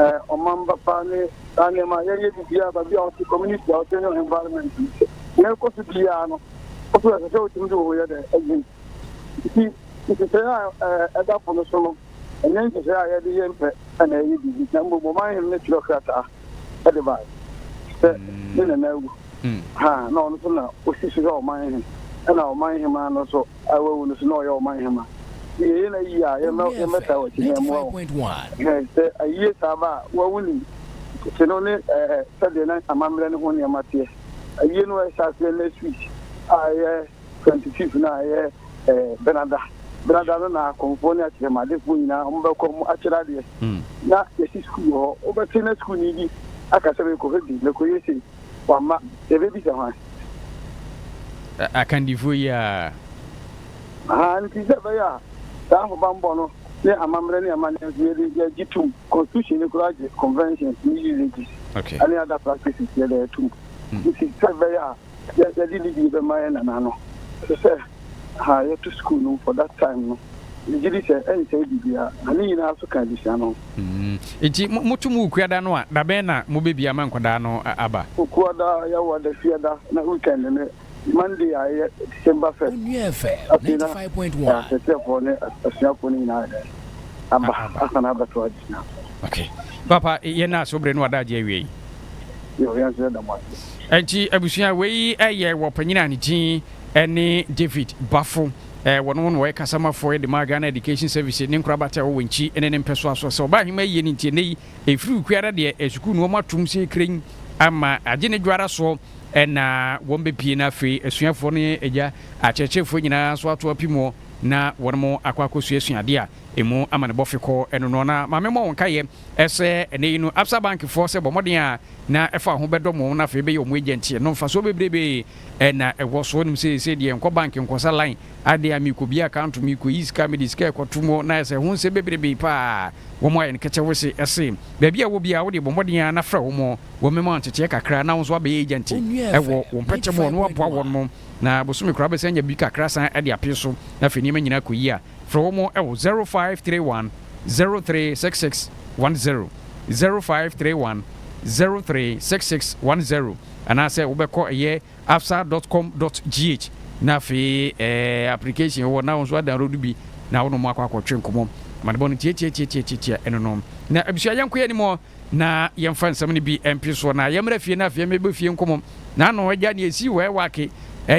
eh, ɔmamba pa ne saa nneɛma a yɛnyɛ biribiara baabi a ɔte community a ɔte ne environment na ɛkɔ so biara no ɔso ɛsɛ sɛ wotumi de wo ho yɛ dɛ ayi nti nhyehyɛe a eh, ɛda po no so no ɛnyɛ nhyehyɛe a yɛde yɛ mpɛ ɛna ɛyɛ biribi na mmom ɔman hem ne twerɛ krataa ɛde bae sɛ ne nana awu ha a na ɔno so na ɔsi so hwɛ ɔman he, ɛna ɔman hemaa no so a wawu no so na ɔyɛ ɔman hema. Nti yɛyɛ no ayie a, yɛmmɛtaa wɔ akyi he mmoa wo. Hɛ, sɛ
ayie saa ba
a, wo a wonim tete no ne ɛɛ sɛdeɛ na amammerɛ no ho nneɛma teɛ. Ayie no a ɛhyɛ aseɛ ne Swiss a ɛyɛ twenty fifth no a ɛyɛ ɛɛ Benada. Benada no na akɔmfoɔ ne akyerɛmadefoɔ nyinaa wɔbɛkɔ wɔn akyerɛ adeɛ. Na yɛsi sukuu wɔ hɔ. Wobɛte na sukuuni bi aka sɛ merekɔhwɛ bi, merekɔyɛ sei. Wamma. Yɛbɛbisa hwan?
Akandifoɔ yi ara.
Ahaa, nti sɛ ɛbɛyɛ a saa ahobammɔ no ne amammerɛ ne amanneɛ nso yɛde, yɛgye tom. Constitution no koraa gye conventions ne usages
ne other practices,
yɛde atom. Nti sɛ ɛbɛyɛ a yɛde ne bi bɛma yɛn nananom. Ɛsɛ sɛ. ha a yɛto sukuu no for that time no, megye di sɛ ɛnsɛe biribiara, na ne nyinaa nso ka abusua no ho. Enti
moto mo Wukuada no a, da bɛn na mobebue ama nkwadaa no aba? Wukuada, yɛwɔ
Adafiada, na weekend no, Monday a ɛyɛ December first. Afei na aserekyerɛfoɔ
ne asuafoɔ
no nyinaa ayɛ dɛn? Aba, asane abɛto adesua ase. Ok.
Paapa, yɛn nna so bere no adagye awiei. Yoo, yɛn
nso yɛda mo ase. Enti abusua,
wei yɛ wɔ ɔpanyin a ne ti. ne David Bafo wɔn wɔn wɔyɛ kasamafoɔ de ma Ghana Education Service ne nkorabata ɛwɔ Wenchi ne ne mpɛsoa so sɛ ɔbaa ahema ayie no nti ɛnɛ yi ɛfiri wukui ara deɛ sukuu no wɔn atom sɛ kren ama agye ne dwo ara soɔ ɛna wɔn bɛpie na afei asuafoɔ no agya akyerɛkyerɛfoɔ nyinaa nso ato apimuɔ na wɔn mo akɔ akɔsuasua adeɛ a ɛmu ama ne bɔfe kɔ ɛno no na maame mmɔ wɔn nkaeɛ ɛsɛ ɛnɛ yi no Absa Bankfoɔ sɛ bɔ mmɔden a na ɛfa ho bɛdɔ mo na afei bɛyɛ wɔn agya nti ɛno mfasoɔ bebrebee Ɛna ɛkɔ so nom seesei deɛ nkɔ bank nkɔsa line adeɛ a mekɔ bi account mekɔ yi sika mede sika ɛkɔ to mu na ɛsɛ ho nsɛm bebrebee paa wɔn ayɛ no kɛkyɛ wese ɛse baabi a ɛwɔ biara wode bɔ mmɔden ara na frɛ wɔn wɔn mɛma wo nteteɛ kakra na wo nso abɛyɛ agent ɛwɔ wɔn mpɛkyɛ mu wɔn aboa wɔn na bosome koraa wobɛsan anya bi kakra asan de apee so na afei nneɛma nyinaa kɔ yie a. Frɛ wɔn wɔ 0531 036610, 0531 036610, anaasɛ wobɛkɔ ɛyɛ afsa dot com dot gh na afei ɛɛ application wɔ hɔ na wo nso adownload bi na wo ne wɔn akɔ akɔtwe nkɔmmɔ. Amanebɔ no tiatiatiatiatia ɛno no. Na abusua yɛnkɔ yɛn anim hɔ. Na yɛmfa nsɛm no bi mpe soɔ, na yɛmmra fie no afei mmɛbɔ fie nkɔmmɔm. Na ano agya ne ɛsii hɔ ɛwake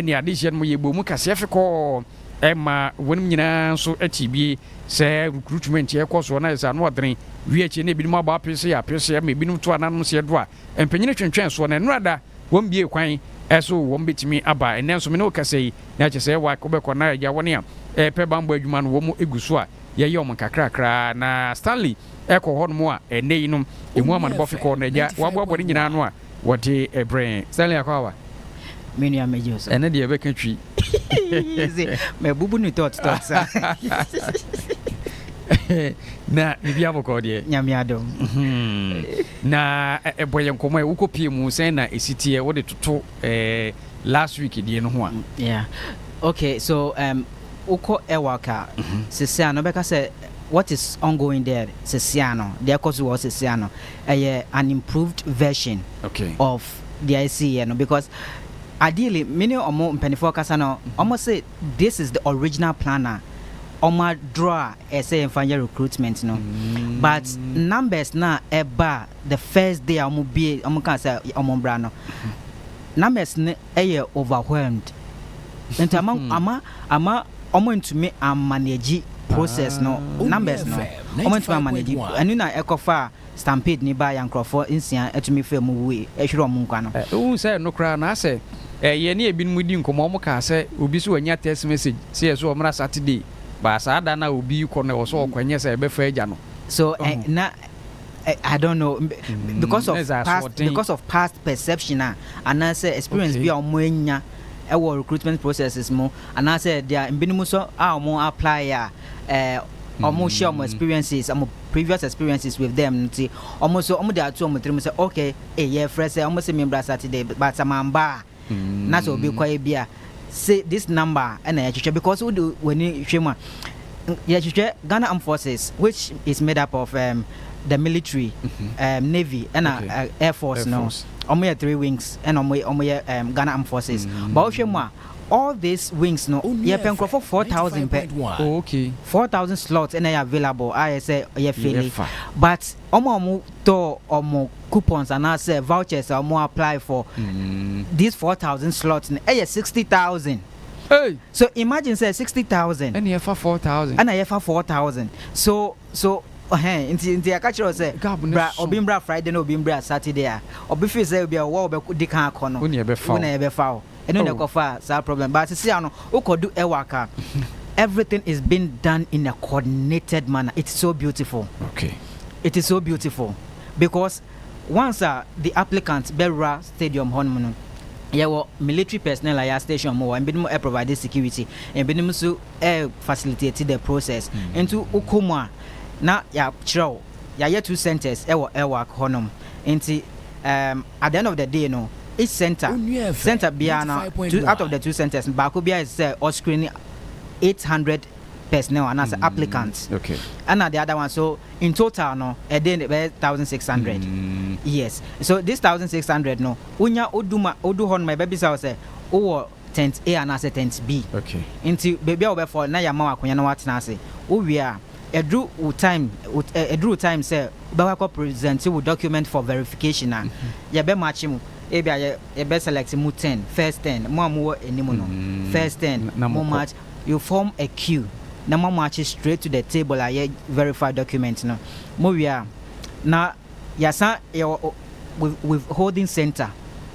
ne adehyeɛ no mu yɛbɔɔ mu kaseɛ fe kɔɔ ɛma wɔnom nyinaa nso te bie sɛ recruitment ɛrekɔ soɔ na ayɛ sɛ ano adene. Wie akyire na ebinom abɔ apeseɛ apeseɛ ma ebinom to ananom seɛ do a mpanyini twentwɛn soɔ na ɛnora da wɔn bie kwan ɛso wɔn bɛtumi aba. Ɛnnɛ nso me ne wo kasa yi na ɛkyɛ sɛ ɛwake wobɛkɔ na agya wɔn a ɛrepɛ banbɔ adwuma no wɔn gu so a yɛyɛ wɔn nkakrakra na Stanley kɔ hɔnom a ɛnnɛ yinom emu amanebɔ fi kɔ no, agya, woaboaboa ne nyinaa ano a wɔde brɛɛ. Stanley Akwaaba, me nua
Megye wo so. Ɛno deɛ ɛbɛka twi.
Ese,
mabubu no tɔt tɔt sa.
Na biribi abɔkɔ deɛ. Nyame adom. Mhm. Na ɛ- ɛbɔ yɛ nkɔmmɔ ɛ, wokɔ pie mu sɛn na ɛsi teɛ wode toto eh, last week deɛ no ho a. Yeah.
Okay, so um, wokɔ Ewalk a, sese a no bɛka sɛ What is ongoing there sesei a no, deɛ ɛkɔ so wɔ hɔ sesei a no, ɛyɛ an improved version of deɛ ɛsiiɛ no because ideally me ne wɔn mpaninfoɔ kasa no, wɔn se this is the original plan a wɔn a draw a ɛsɛ yɛmfa nyɛ recruitment no but numbers no a ɛbaa the first day a wɔn bie wɔn kaa sɛ wɔn bra no numbers no yɛ overwhelmed nti ama ama ama ɔmo antumi ammanage process no numbers no ɔmo antumi ammanage ɛno na ɛkɔ faa stampede no baeɛ a
nkorɔfoɔ
nsia
tumi
faa mu wuui ɛhwere ɔmo nkwa
no.
Wohu sɛ
ɛno
koraa no asɛ
yɛne ebinom di nkɔmmɔ ɔmo kaa sɛ obi so anya text message sɛ yɛsɛ ɔmmra Saturday but saa da no a obi rekɔ no ɛwɔ sɛ ɔkɔ ɛnyɛ sɛ ɛbɛfa agya no. So na
Eh, I don't know mm, because of past because of past perception a anaasɛ experience bi a wɔn anya ɛwɔ recruitment processes mu anaasɛ deɛ mbinom nso a wɔn apply a ɛɛ wɔn share wɔn experiences wɔn previous experiences with them nti wɔn nso wɔn de ato wɔn tirim sɛ okay ɛyɛ eh, frɛ sɛ wɔn sɛ membra saturday but sɛ mamba a na sɛ obi kwae bi a say this number ɛna yɛhwehwɛ because wode w'ani hwɛ mu a yɛhwehwɛ Ghana Armed Forces which is made up of um, the military um, navy ɛna okay. uh, air force no ɔmo yɛ three wings ɛna ɔmo yɛ um, Ghana Armed Forces mm. but wohwɛ mu a all these wings no yɛpɛ nkurɔfo four thousand pɛ oh, okay. four
thousand slots
ɛna yɛ available a yɛ sɛ yɛ fele but Wɔn a wɔtɔɔ wɔn coupons anaasɛ vouchers a wɔn apply for this four thousand slots no ɛyɛ sixty thousand. Hey! So
imagine sɛ
sixty thousand. Ɛna yɛfa four
thousand. Ɛna yɛfa four
thousand. So so hɛn nti nti yɛka kyerɛ wo sɛ Gab no bra so. obi mbra Friday na obi mbra Saturday a obi feel sɛ obi a wɔwɔ bɛko di kan akɔ no Wo na yɛbɛfa wo. wo na yɛbɛfa
wo. ɛno na oh. ɛkɔfaa
saa problem but sisi ano wokɔdu ɛwak a everything is being done in a coordinated manner it's so beautiful okay it
is so
beautiful because once uh, the applicant bɛwura stadium hɔ nom no yɛwɔ military personnel a yɛ station mu wɔ ebinom ɛ provide security ebinom nso ɛ facilitate the process mm. nti wokɔ mu a na yɛakyerɛw Yɛayɛ two centres wɔ Airwalk hɔnom nti um at the end of the day no each centre centre biara no two out of the two centres no baako biara yɛ sɛ ɔ screen eight hundred personnel anaasɛ applicants ɛna the
other one so
in total no ɛde ne bɛyɛ thousand six hundred yes so this thousand six hundred no wonya oduma odu hɔnom a ɛbɛbisa wo sɛ wowɔ Tent A anaasɛ Tent B. Okay. Nti
baabi a wobɛfa
wo na yɛama wo akonya na woatena ase. Wowie a, ɛduru wo time, ɛduru wo time sɛ wobɛkɔ akɔ present wo document for verification a, yɛbɛ match mo. Ebia yɛ, yɛbɛ select mo ten, first ten, mo a mowɔ anim no, first ten, mo match, you form a queue na moamatch straight to the table a yɛ verify document no. Mowie a, na. Yɛasan yɛwɔ withholding centre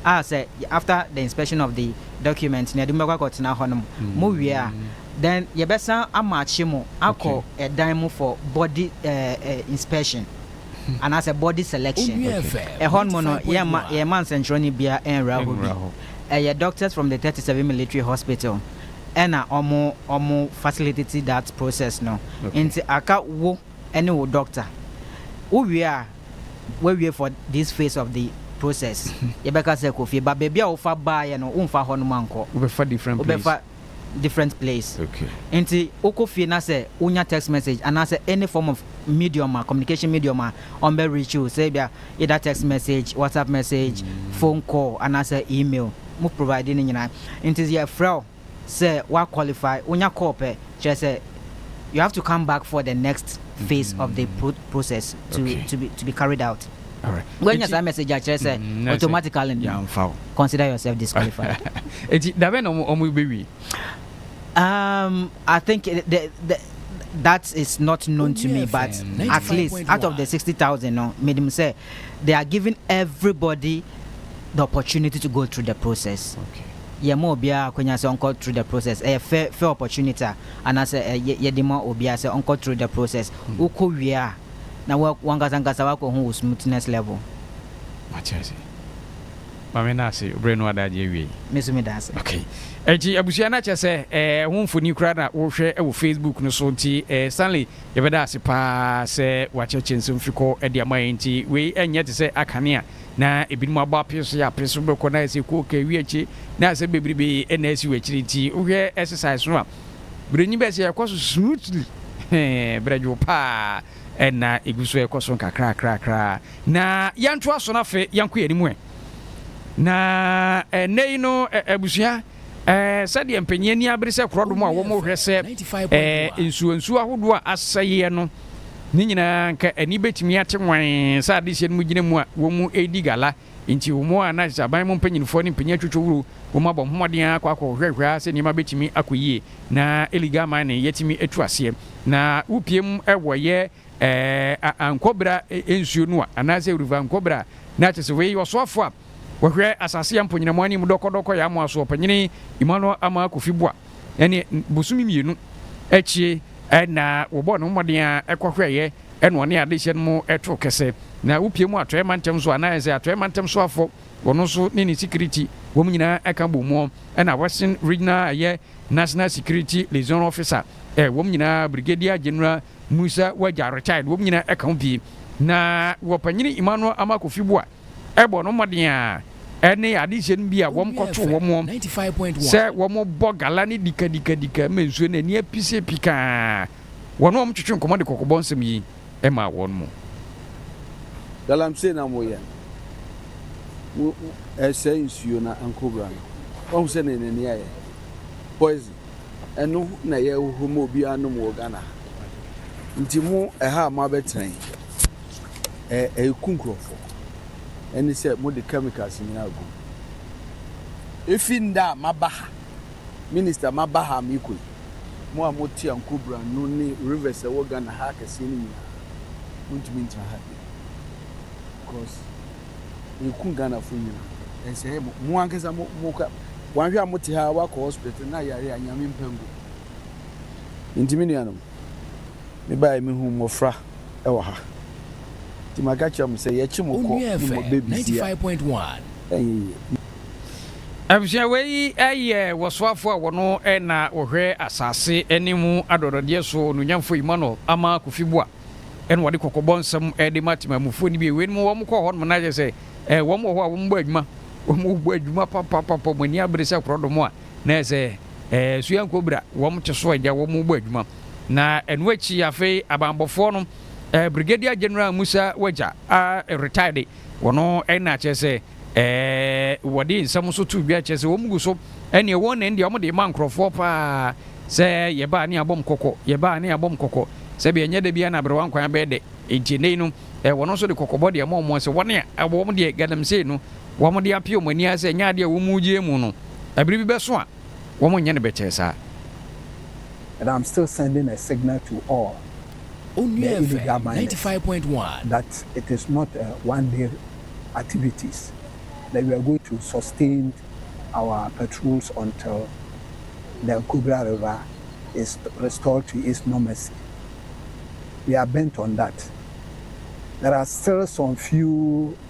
a sɛ after the inspection of the document na yɛde mo bɛkɔ akɔtena hɔ nom mo wie a then yɛbɛsan amakye mo akɔ ɛdan mu for body inspection anaasɛ body selection ɛhɔ nom no yɛma yɛma nsɛnkyerɛwni bia ɛnwura hɔ bi ɛyɛ doctors from the 37 military hospital ɛna ɔmo ɔmo facilitate that process no nti aka wo ɛne wo dɔkta. Wo wie a, w'awie for this phase of the process. Yɛbɛka sɛ kɔ fie but baabi a wofa baeɛ no wonfa hɔ nom ankɔ. Wobɛfa different place. Wobɛfa
different place. Okay. Nti
wokɔ fie na sɛ wonya text message anaasɛ any form of medium a, communication medium a ɔmbɛ reach wo sɛ ebia either text message, WhatsApp message, phone call anaasɛ email, mo provide ne nyinaa. Nti yɛfrɛ wo. sɛ wa qualify, wonya call pɛ, kyerɛ sɛ you have to come back for the next phase of the pro process to Okay. to be to be carried out. Alright. Woanya Enti,
saa message a kyerɛ
sɛ mm, na sɛ automatically no yɛamfa wo. consider yourself disqualified. Enti da bɛn na wɔn wɔn bɛwie? Um, I think it- the, the, that is not known to me, but FM at least out of the 95.1. 60,000, no, medium say they are giving everybody the opportunity to go through the process. Okay. yɛ ma
obiara
akwanya sɛ ɔnkɔ through the process ɛyɛ fair fair opportunity a anaasɛ ɛ yɛ yɛde ma obiara sɛ ɔnkɔ through the process wokɔ wie a na wa wankasa ankasa wakɔ hu wo smoothness level. Mate ase.
Ma me nna ase, berɛ no ada agye awiei. Me nso meda ase. Ok.
Enti
abusua na kyerɛ sɛ eh, ɛho mfoni koraa na wohwɛ wɔ Facebook no so nti eh, Stanley yɛbɛda ase paa sɛ woakyerɛkyerɛ nsɛm fi kɔ de ama yɛn nti wei ɛnyɛ te sɛ akane a Na ebinom abɔ apee so yɛ apee so bɛkɔ na ayɛ sɛ kooke awi akyi na asɛm bebrebe na asi wɔ akyiri nti wohwɛ ɛsesae so a brɛnyi bɛyɛ sɛ ɛkɔ so smoothly hee brɛdwow paa ɛna egu so ɛkɔ so nkakrakrakra na yɛntoa so na afei yɛnkɔ yɛn anim ɛ na ɛnɛ yi no abusua. Ɛɛ, sɛdeɛ mpanyin ani abere sɛ korɔdom a wɔhwɛ sɛ ɛɛ nsuonsuo ahodoɔ a asɛeɛ no, ne nyinaa anka ani bɛtumi ate wann sɛ adehyeɛ no mu gyina mu a wɔredi gala. Enti wɔn ara na ɛsɛ sɛ aban mu mpanimfoɔ ne mpanyin atwitwa wuro wɔ mu abɔ mmɔden ara kɔ akɔhwɛhwɛ ara sɛ nneɛma bɛtumi akɔ yie na illegal mining yɛatumi atu aseɛ. Na wopie mu wɔ ɛyɛ ɛɛ Ankobrah nsuo no a, anaasɛ River Ankobrah, na kyerɛ sɛ wei ɔsoafoɔ a Wɔhwɛ asase a mponnyinamu anim dɔkɔdɔkɔ yɛ amoa so Ɔpanyin Emmanuel Amaa Kofi Boa ne bosome mmienu akyi na wɔbɔɔ ne ho mmɔden ara ɛkɔhwɛeɛ na ɔne adehyeɛ no mu too kɛsɛ na wopie mu Atɔeɛ Mantam so anaa ɛsɛ Atɔeɛ Mantam soafo wɔn nso ne ne security wɔn nyinaa ka bɔ mu ɛna Western Regional ɛyɛ National Security Liaison Officer ɛ wɔn nyinaa Brigadier General Musa Wagya retired wɔn nyinaa ka ho pii na Ɔpanyin Emmanuel Amaa Kofi Boa bɔ no mmɔden ara ne adehyeɛ no bi a wɔkɔtoo wɔn wɔn sɛ wɔbɔ gala ne dikadikadika ma nsuo no ani apise pikaa wɔn wɔn twetwe nkɔmmɔ de kɔkɔbɔ nsɛm yi maa wɔn mu. Galamsey
na moyɛ mo ɛsɛe nsuo na nkobra no wahu sɛ ne n'ani ayɛ poison ɛno na yɛhohoro ma obiara nom wɔ Ghana ha nti mo ɛha a moabɛtena yi Ɛ ɛku nkurɔfoɔ. Ɛne sɛ mode chemicals nyinaa agu mu. Ɛfiri nda a maba ha, Minister maba ha a merekɔ yi, mo a mote Anko Branu ne rivers a ɛwɔ Ghana ha akɛseɛ no nyinaa, montumi ntena ha bio. Because ɛku Ghanafoɔ nyinaa. Ɛsɛe mo. Mo ankasa mo, mo ka, wanhwɛ a mote ha a, woakɔ hospital na yare a Nyame mpa ngu. Nti me nuanom, Mebaeɛ mehuu mmɔfra wɔ ha nti maka kyerɛ mo sɛ yɛkye mo kɔ ne mo bɛbisi a
ɛnyɛ yie.
Abusua wei yɛ wɔsoafoɔ a wɔno na wɔhwɛ asase ne mu adɔdɔdeɛ soɔ Onuonyamfoɔ Emmanuel Amah Kofi Boah na wɔde kɔkɔbɔ nsɛm de ma temanmufoɔ no bio wei nom wɔn kɔ hɔ nom na kyɛ sɛ wɔn wɔ hɔ a wɔn bɔ adwuma wɔn bɔ adwuma papapapa wɔn ani abere sɛ korɔdɔm a Na ɛsɛ ɛɛ sua nkobira wɔn te so agya wɔn bɔ adwuma na ɛno akyi afei abanbɔfoɔ no ɛɛ Brigadier General Musa Wagya a retire de wɔno ɛna kyerɛ sɛ ɛɛ wɔde nsɛm so to dwa kyerɛ sɛ wɔn gu so ɛneɛ wɔn nɛn deɛ wɔn de ma nkorɔfoɔ paa sɛ yɛbaa ne abɔm kɔkɔ yɛbaa ne abɔm kɔkɔ sɛbi ɛnyɛ da biara na aberewa nkwan bɛyɛ dɛ nti ɛnɛ yi no ɛɛ wɔn nso de kɔkɔbɔ deɛ ɛmɔ wɔn sɛ wɔn a ɛwɔ wɔn deɛ galamsey no Wɔde apia wɔn ani ara sɛ ɛnyɛ ade a wɔn mu gye mu no, bere bi bɛso a wɔrenyɛ no bɛkyɛe saa.
And I'm still sending a signal to all the Onua FM illegal
ninety miners five point one. that it is
not a one day activities that we are going to sustain our patrols until the Nkogra river is restored to its normalcy. We are bent on that. There are still some few.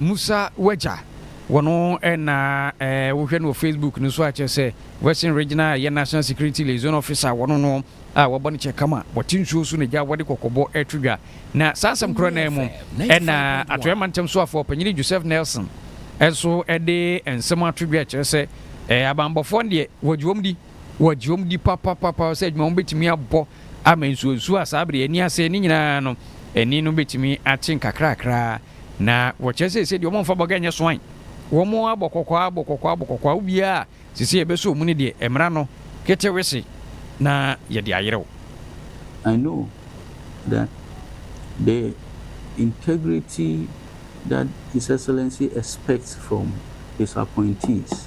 Musa w'agya wɔ no na eh wo hwɛ no wɔ Facebook no so a kyerɛ sɛ Western Regional ɛyɛ National Security Liaison Officer wɔ no no a wabɔ ne kyɛ kama wɔte nsuo so na gya wɔde kɔkɔbɔ ɛreto dwa na saa asɛm korɔ no ara mu ɛna Atɔeɛ Mantam Soafoɔ Panyini Joseph Nelson nso ɛde nsɛm ato dwa ɛkyerɛ sɛ eh abanbɔfoɔ no deɛ wɔgye wɔn di wɔgye wɔn di papapapa sɛ adwuma wɔn bɛtumi abɔ Ama nsuonsuo a saa bere ani ase no nyinaa no ani no betumi akye nkakrakra, na wɔkyerɛ sɛ sɛdeɛ wɔmfa bɔga nyɛ soan, wɔabɔ kɔkɔɔ ara bɔ kɔkɔɔ ara bɔ kɔkɔɔ ara, wowie a, ɛsɛ sɛ yɛbɛsɔ mu no deɛ, ɛmmra no ketewese na yɛde ayerɛw. I
know that the integrity that His Excellency expects from his appointees.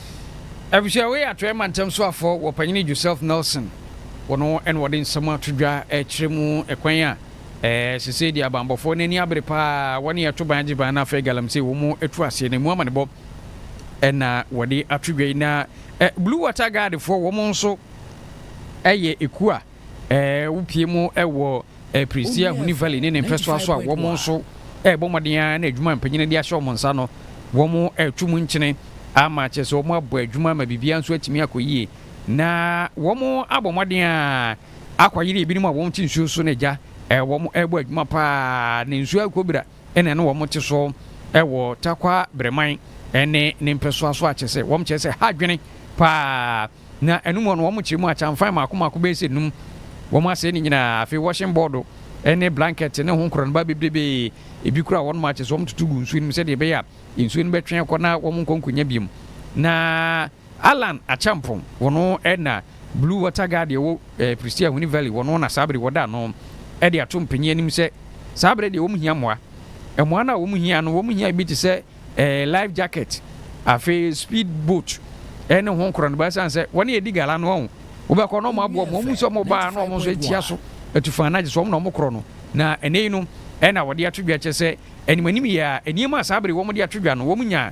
Efisɛ wei yɛ Atɔeɛ Mantam Soafoɔ Wɔpanyini Joseph Nelson, wɔn na wɔde nsɛm ato dwa rekyerɛ mu kwan a sesei deɛ abanbɔfoɔ no ani abere pa ara, wɔne ɛto ban gye ban na afei galamsey wɔ mu atu aseɛ no emu amanebɔ na wɔde ato dwa yi. Na Blue Water Guard foɔ wɔn nso yɛ ekuo a wopue mu wɔ Ɛpirisie Ahunii Valley ne ne mpɛsoa so a wɔn nso rebɔ mmɔden ara na adwuma a mpanyin no de ahyɛ wɔn nsa no, wɔreto mu nkyene ama akyerɛ sɛ wɔabɔ adwuma ama biribiara nso atumi akɔ yie. Na wɔabɔ mmɔden ara akɔyere ebinom a wɔte nsuo so no agya. Wɔrebɔ adwuma paa na nsuo akɔ bira. na ɛne wɔn te so wɔ Tarkwa Breman ne ne mpɛsoa so akyɛ sɛ wɔn kyerɛ sɛ ha adwene paa na ɛno mu hɔ no wɔn kyerɛ mu akyamfan mako mako bɛyɛ sɛ num wɔn asɛe ne nyinaa afei washing board ne blanket ne ho nkorɔnoba bebrebe ebi kura wɔn akyɛ sɛ wɔn tutu gu nsuo no mu sɛdeɛ ɛbɛyɛ a nsuo no bɛtwe akɔ na wɔn nkɔ nkonya biom na Allan Acheampong, wɔno na Blue Water Guard deɛ ɛwɔ Prestea Ahuni Valley, wɔno na saa bere yi wɔda ano de ato mpanyin anim sɛ saa bere deɛ wɔn hia mmoa. Mmoa no a wɔn hia no, wɔn hia bi te sɛ life jacket, afei speed boat ne ho nkorɔnoba ɛsiane sɛ wɔn yɛ di gala no wɔn wobɛkɔ na wɔn aboa wɔn, wɔn mu sɛ wɔn baa na wɔn nso atia so atu fan agye sɛ wɔn na wɔn korɔ no. Na ɛnɛ yi no ɛna wɔde ato dwa kyɛ sɛ anim anim yɛ a nneɛma a saa bere wɔn de ato dwa no wɔn nya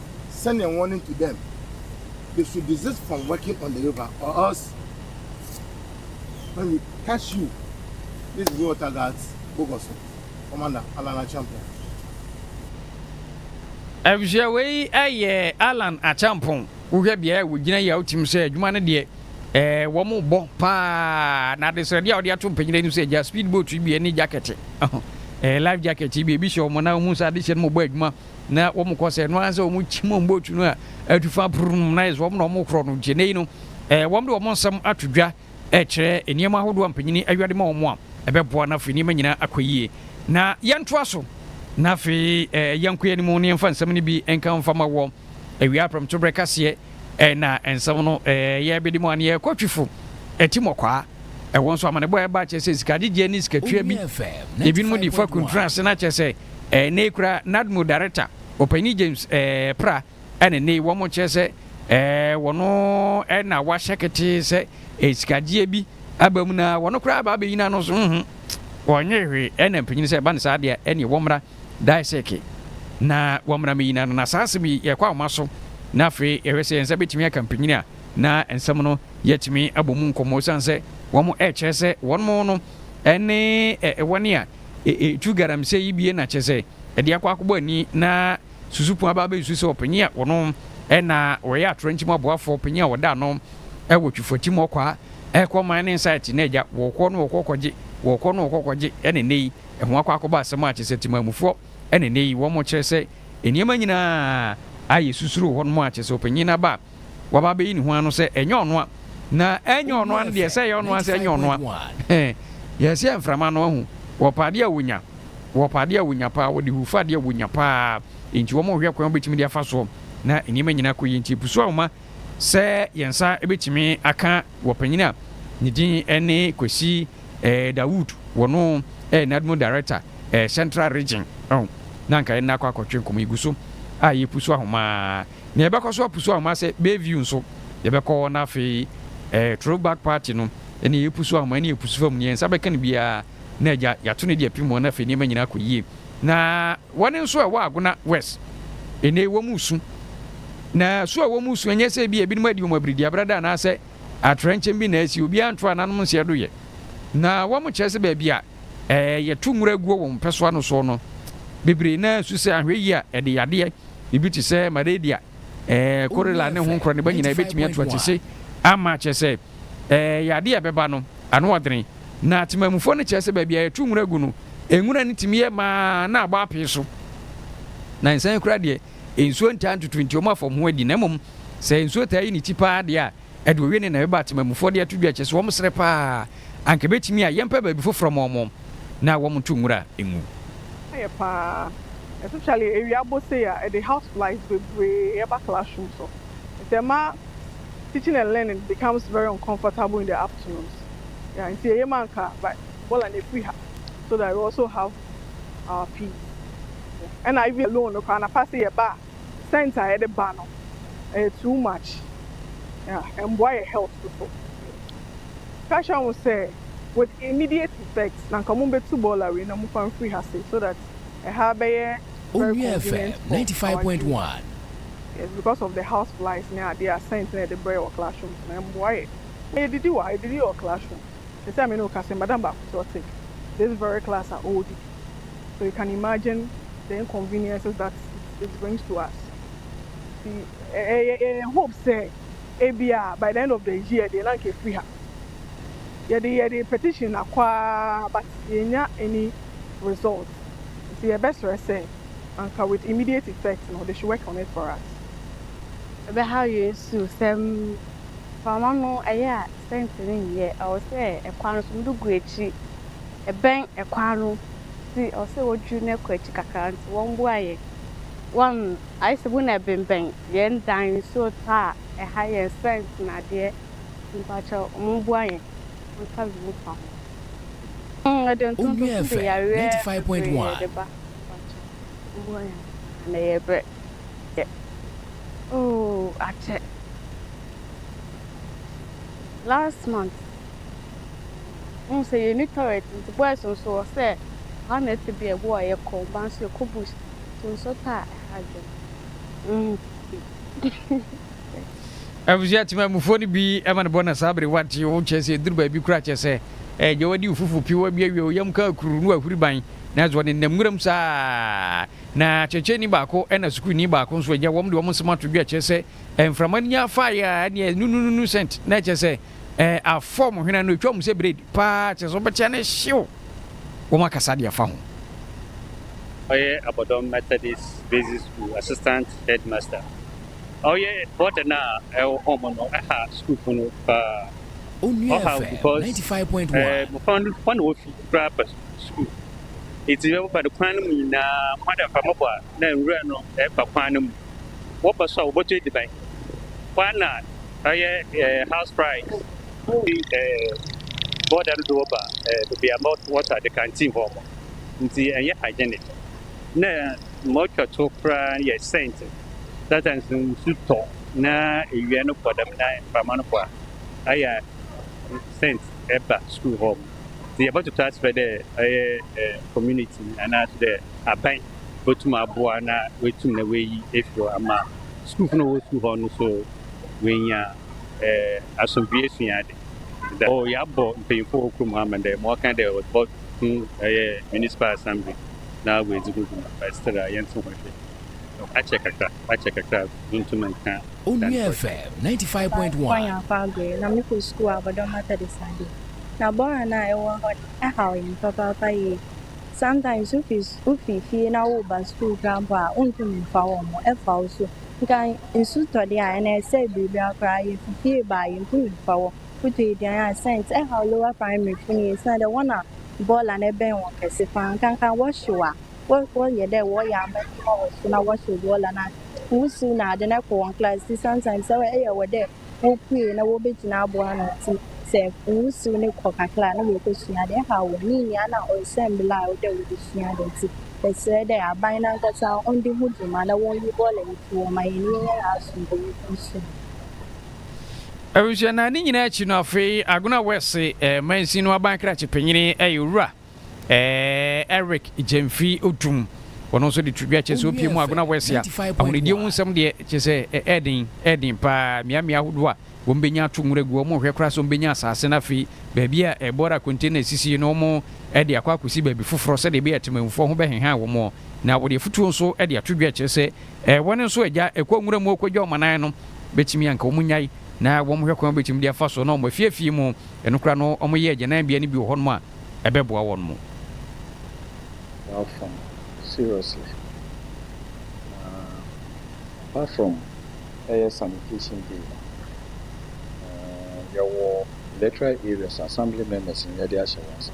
sending warning to them they should desist from working on the river or else when we catch you these blue water guards bogɔ so commander Allan Acheampong.
Efisɛ wei yɛ Allan Acheampong wohwɛ beaeɛ a wɔgyina yi a wotim sɛ adwuma no deɛ ɛɛ wɔn bɔ paa na adesrɛdeɛ a wɔde ato mpanyin anim sɛ gya speed boat yi bi ne jacket ɛɛ life jacket yi bi ebi hyɛ wɔn na wɔn sɛ adehyɛ no mu bɔ adwuma. na wɔn kɔ sɛ ɛno ara sɛ wɔn kyim wɔn bootu no a atu fa purum na yɛ sɛ wɔn na wɔn korɔ no gyene no ɛɛ wɔn de wɔn nsɛm ato dwa ɛkyerɛ nneɛma ahodoɔ a mpanyin awia de ma wɔn a ɛbɛboa na afei nneɛma nyinaa akɔ yie na yɛntoa so na afei ɛɛ yɛnkɔ yɛn anim ne yɛnfa nsɛm no bi nka mfa ma wɔ awia apɛrɛmtobrɛ kaseɛ na nsɛm no yɛ bedi mu a, na yɛkɔ twi fo, ti mɔkwaa. Ɛwɔ nso amanebɔ a ɛba kyerɛ sɛ sikagyegyeɛ ne sikatua bi. Ebinom de fa kuntunu ase na kyerɛ sɛ ɛnna yi kura NADMO Darekta Ɔpanyin James Pra na ɛnna yi wɔn kyerɛ sɛ wɔn na wɔahyɛ ketee sɛ sikagyegyeɛ bi aba mu na wɔn koraa aba abɛyi n'ano so, wɔnyee hwee na mpanyin sɛ ɛba no saa deɛ ɛnneɛ wɔmmra. Daisuke, na wɔmmra me nyina no, na saa asɛm yi yɛkɔ ahoma so na afei yɛhwɛ sɛ yɛn nsa bɛtumi aka mpanyin a na nsɛm no yɛatumi abɔ mu nkɔmmɔ ɛsiane sɛ wɔn ɛrekyerɛ sɛ wɔnom no ne wɔne a ɛtu galamsey yi bie na kyerɛ sɛ ɛde akɔ akɔbɔ ani na susu pon aba abɛsusu sɛ ɔpanyin a wɔnom na wɔyɛ atorɔnkye mu aboafoɔ panyin a wɔda ano wɔ twifɔti mu ɔkɔ a ɛkɔ man ne nsaɛte na agya wɔkɔ no wɔkɔ kɔgye wɔkɔ no wɔkɔ kɔgye ɛne nnɛ yi Ɛho akɔ akɔba asɛm a kyesɛ temanmufoɔ ɛna ɛnɛ yi wɔn kyerɛ sɛ nneɛma nyinaa a yɛ susuro hɔ nom a kyesɛ ɔpanyin aba a waba abɛyi ne ho ano sɛ ɛnyɛ ɔno a na ɛnyɛ ɔno a no deɛ sɛ ɛyɛ ɔno a sɛ ɛnyɛ ɔno a hɛn yɛ sɛ mframa no ahu wɔ pa adeɛ a wɔnya wɔ pa adeɛ a wɔnya paa wɔde hu fa adeɛ a wɔnya paa nti wɔn hwɛ kwan wɔbɛtumi de afa soɔ na nneɛma nyinaa kɔ yie nti ɛpusu ahoma Sɛ yɛn nsa bɛtumi aka wɔ panyin a ne din ne Kwesi Dawood, wɔn yɛ NADMO Director Central Region ɔn, na anka yɛn nna akɔ akɔtwe nkɔmmɔ yi gu so a yɛpusu ahoma ara, na yɛbɛkɔ so apusu ahoma sɛ Bayview nso yɛbɛkɔ na afei Throwback Party no ɛne yɛpusu ahoma ɛne yɛpusu fam, nea yɛn nsa bɛka no biara na agya yɛato no de apim wɔn na afei nneɛma nyinaa akɔ yie. Na wɔn nso a ɛwɔ Agona West nnɛ yi wɔn resu. Na su a wɔn resu ɛnyɛ sɛ ebi a ebinom adi wɔn abiridiabrada anaasɛ atrɛnkyɛm bi na asi, obiara nto ananom nseɛ do yɛ. Na wɔn kyerɛ sɛ baabi a ɛɛ yɛto nwura guo wɔn mpɛsoa no soɔ no, bebree no ara resu sɛ ahwɛyie a ɛde yadeɛ ebi te sɛ Malaria, Korela ne ho nkorɔ no ba nyinaa yɛbɛtumi ato akyese ama akyerɛ sɛ ɛyɛ adeɛ a ɛbɛba no ano ɔdene. Na temanmufoɔ no kyerɛ sɛ baabi a yɛto nwura gu no, nwura no tumi yɛ ma na abɔ apee so. Na nsan koraa deɛ, nsuo ntaa ntutu nti wɔn afam ho adi. Na mmom sɛ nsuo taa yi ne ti paa deɛ a, Ɛde owie ne nea ɛbɛba atemamufoɔ de ato dwa a, kyerɛ sɛ wɔn srɛ pa ara, anka ɛbɛtumi a, yɛmpɛ baabi foforɔ mma wɔn na wɔn nto nwura ngu. Ayɛ pa
ara, especially awia bɔ sei a, ɛde house flies bebree ba classroom so, nti ɛma teaching and learning becomes very uncomfortable in the afternoons, yeah, nti eye ma anka bola no ɛfiri ha so that we also have our peace, yeah, ɛna even loan no koraa anapa sɛ yɛba a. Scent a yɛde ba no ɛyɛ too much yeah ɛmboa yɛ health nso Tasha hu sɛ with immediate effect na nka ɔmo betu bɔɔla wei na mofa mfiri ha sei so that ɛha bɛyɛ very Owia FM convenient for
ninety five our point dream one. yes
because of the house flies ne adeɛ a scent na yɛde brɛ yɛ wɔ classroom nti no ɛmboa yɛ na yɛdidi wɔ ha yɛdidi wɔ classroom. Sɛsɛ a me ne wo kasa yi madam baako so ɔte this very class a ɔwɔ didi so you can imagine the inconveniences that it brings to us nti yɛ yɛ yɛ hope sɛ ebia by the end of the year deɛ na nka efiri ha yɛde yɛde petition akɔ ara but yɛn nya any result nti yɛ bɛ srɛ sɛ anka with immediate effect no they should work on it for us.
Ɛbɛhaw yɛn su sɛm. Mframa no yɛ a sɛnti no nyɛ, ɛwɔ sɛ ɛkwan no so mode gu akyi, ɛbɛn ɛkwan no nti ɛwɔ sɛ wɔdwiri no kɔ akyi kakra nti wɔmboa yɛn, wɔn ayɛ sɛ wɔn na ɛbenbɛn yɛn dan nsuo tɔ a ɛha yɛn sɛnti no adeɛ nti mpakyɛw wɔn mboa yɛn wɔn nsa bi mu fa ho. Hmmm yɛde ntonto nso de yareɛ bebree de
ba mpakyɛw
wɔmboa yɛn na yɛbrɛ. yɛ. Oh akyɛ last month wohu sɛ yɛni toilet nti boys nso wɔ sɛ ha na ɛte bia ɛboɔ a yɛkɔ ɔbaa nso yɛkɔ bush to nso ta a ɛha adwene.
Abusua temamufoɔ no bi ma no bɔ na saa bere wate wo kyɛ sɛ ɛduru baabi koraa kyɛ sɛ ɛgya wadi wo fufu piwa bi awie wo yam kaa kuru no ahuri ban nanso ɔnenam nwuram saa. Na kyerɛkyerɛni baako na sukuuni baako nso agya wɔn de wɔn nsɛm ato dwa kyerɛ sɛ mframa no nya faeɛ a ɛne ɛyɛ nunununu sɛnt na ɛkyerɛ sɛ ɛɛ afɔm hwene no ɛtwa mu sɛ bred paa kyerɛ sɛ wɔbɛkyea no hyew wɔn akasa deɛ fa ho.
Ɔyɛ Abɔdɔm Methodist Basic School Assistant Headmaster. Ɔyɛ burden a ɛwɔ home no ɛha sukuufo no paa. Ɔhaw
because ɛɛ mmofra no hɔ na
wɔfi koraa pɛ so. sukuu. Enti sɛ wɔba no kwan no mu nyinaa, mmoadabi mfa mmɔbɔ a na nwura no ba kwan no mu. Wɔba so a, wɔbɛtɔ adziban. Hɔ ara na ɔyɛ house fries fi bɔɔda no do wɔba beebi a wɔtɔ adze, canteen hɔ. Ntsi nnyɛ hygienic. Nna ma otwa to koraa yɛ scent. Sometimes no nsu tɔ na ewia no bɔ dɛm na mframa no bɔ a, ayɛ a scent ba sukuu hɔ. Ntsi yɛbɔtoto aspɛ dɛ ɔyɛ community no anaaso dɛ aban botum aboa na oetum na oeyi efi hɔ ama skuulfo no a wɔwɔ skuul hɔ no so woeenya asomdwee esua adze. Dɛ oh yɛabɔ mpanyimfo wɔ kurom ha ama dɛ ma wɔkã dɛ wɔbɔko ɔyɛ municipal assembly na woedzi ho dwuma but still a yɛnntse ho nhwɛ. Akyɛ kakra. Wakyɛ kakra a wontum nka Onua FM ninety five
Ɔbaa point Nwankwa one. Nyarko Aggrey, na mekɔ sukuu
wɔ Abɔdɔm Methodist ade. Na bɔɔl no a ɛwɔ hɔ no, ɛhaw yɛn papaapa yie. Sometimes wofi su wofi fie na woreba sukuu koraa mpo a, wontum mfa wɔn, ɛfa wo so. Nka nsu tɔ de a, ɛnna ɛsɛe biribiara koraa. Yefi fie ba a, yentumi mfa wɔn. Wotɔ aduan a, cents. Ɛhaw Lower Primary fo no yie, esiane dɛ wɔn na bɔɔl no bɛn wɔn kɛse paa. Nka nka wɔhyew a, wɔ wɔyɛ dɛ wɔyɛ amanyɛ ma wɔ so na wɔhyɛ obiara la na wusiw no adze na kɔ hɔn class ntsi sometimes sɛ ɔyɛ wɔ dɛ wopue na wobegyina aboa ano ntsi sɛ wusiw no kɔ kakra a na oekosua adze nhaw hɔn ne nyinaa na ɔsɛ mbla a ɔwɔ wobosua adze ntsi meserɛ dɛ aban nankasa ɔnde ho dwuma na wɔnyi bɔɔla yi to hɔ ma hɛn nye hɛn aasomdwee nkɔ nsu
mu. Ebusua na ne nyinaa akyi no afei Agona West mansin no aban krakye panyin yɛ Owura Eric Gyamfi Odum, ɔno nso de to dwa kyerɛ sɛ opie mu Agona West a ahonidie ho nsɛm deɛ kyerɛ sɛ ɛyɛ den ɛyɛ den paa mmeammea ahodoɔ a wɔbɛnya ato nwura agu wɔn hwɛ koraa sɛ wɔbɛnya asase no afei baabi a ɛbɔra container sisi no wɔn de akɔ akɔsi baabi foforɔ sɛdeɛ ɛbɛyɛ atemamfoɔ ho bɛhehan wɔn na wɔde afutuo nso de ato dwa kyerɛ sɛ wɔn nso agya ɛkɔ nwura mu ɔkɔgya wɔn anan no bɛtumi anka wɔn nyae na wɔn hwɛ kwan bɛtumi de afa so na wɔn afiafie mu ɛno koraa no wɔyɛ agyananbea no bi wɔ hɔnom a ɛbɛboa wɔn mo. Apart from
seriously na apart from ɛyɛ sanitation day no eh yɛwɔ electoral areas assembly members no yɛde ahyɛ wɔn nsa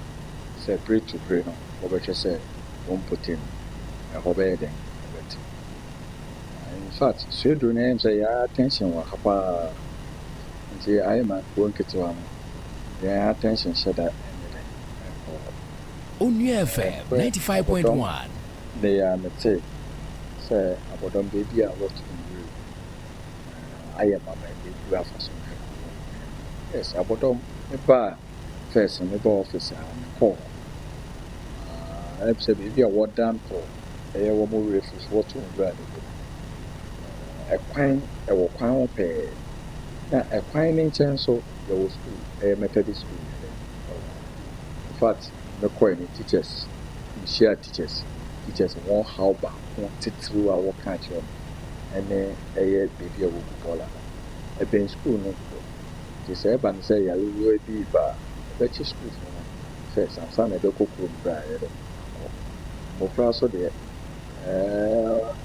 sɛ bere to bere no wɔbɛhwɛ sɛ wɔn mpɔtam ɛhɔ bɛyɛ dɛn ɛbɛte na infact suaduro no ɛyɛ me sɛ yɛa attention wɔ ha paa nti ayɛ ma kuro nketewa no. Yɛn attention hyɛ da nyɛ dɛ nkɔ hɔ.
Onua FM ninety five point one. Ɛberɛ abɔdɔm nnɛ yi ara
me tee sɛ abɔdɔm baabi a wɔ to nwura mu na ayɛ ma ma ɛbɛgu afa so na ɛkɔ hɔ nyinaa. Yes abɔdɔm me baa first no me baa office a me kɔɔ hɔ ah ɛm sɛ baabi a wɔ dan to ɛyɛ wɔn wura firi so wɔ to nwura no gu mu ɛkwan ɛwɔ kwan ho pɛɛ na ɛkwan no nkyɛn nso Yɛwɔ school ɛyɛ Methodist school ne dɛ oh infact me kɔɛ no teachers me hyia teachers teachers wɔn haw baako titiriw a wɔka akyerɛ me ɛne ɛyɛ baabi a wɔgu bɔɔla no ɛbɛn school no dodo nti sɛ ɛba no sɛ yarewura bi reba a ɔbɛkye school fo no first ansa na ɛbɛkɔ kurom berɛ a yɛde no akɔ mmofra so deɛ ɛɛ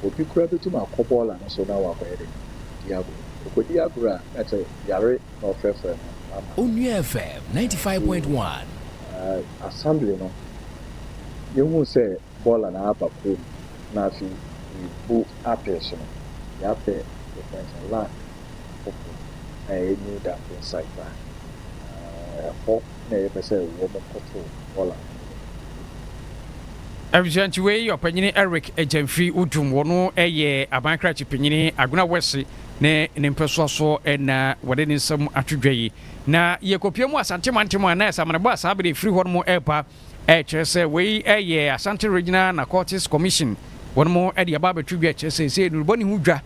Obi koraa betum akɔ bɔɔla no so na ɔakɔyɛ dɛn? Di agor. Okodi agor a, nna kyerɛ yare na ɔfrɛfrɛ no ama no. Onua FM ninety
five point one. Aa
assembly no, yehun sɛ bɔɔla no aba kurow no mu na afei yeebu apee so no, yɛapɛ Defensa Land foforo a ɛyɛ New Dumping Site paa. Aa ɛhɔ. na yɛpɛ sɛ wɔkɔtow bɔɔla
no wɔ kurow no mu. Abusuantsi wei, Ɔpanyin Eric Gyamfi Odum, ɔno yɛ Aban Krakye Panyin Agona West ne ne mpɛsoa so na wɔde ne nsam ato dwa yi. Na yɛkɔpue mu Asante mantam a na asammanebɔ a saa bere ɛfiri hɔ nom reba kyerɛ sɛ wei yɛ Asante Regional Narcotics Commission wɔnom de aba abɛto dwa kyerɛ sɛ seesei nnurubɔne ho dwa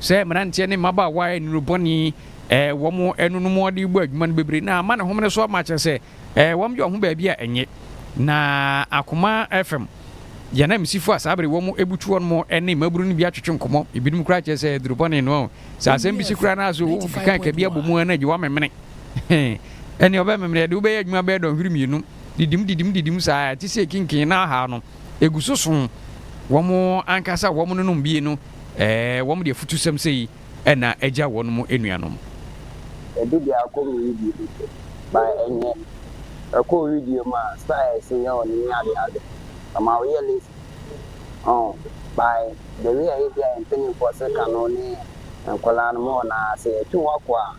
Sɛ mmeranteɛ ne mmabaawa a nnuru bɔne eh, wɔn ɛno no mu ɔde bɔ adwuma no bebree na ama ne homene so ama kyerɛ sɛ eh, wɔn yɛ ɔho baabi a ɛnyɛ na akoma fam yɛn amsifo a saa bere wɔn butu wɔn mo ne mmaburu no bi atwetwe nkɔmɔ ebinom koraa kyerɛ sɛ duru bɔne no sɛ asɛm bi si koraa na so wɔn keka ka bi abɔ mu a na gye wɔamemene ɛne ɔbɛmemene ɛde wobɛyɛ adwuma bɛyɛ dɔnhwere mmienu didim didim didim saa ɛte sɛ kinkin na aha no egu so so wɔn ankasa wɔn no nom bie no Ɛɛ, wɔn de afutusɛm sei na agya wɔn anuanom. Ɛde
deɛ akɔ me wedeɛ mu so, but ɛnyɛ. Ɛkɔ wo wedeɛ mu a, styles nyɛ wo nene ade ade. Ɛma wo yɛ lazy. Ɔho, by the way a ebia yɛn mpaninfoɔ se ka no ne nkwadaa no, mo wɔn aa, sɛ yɛtwe wo akɔ a,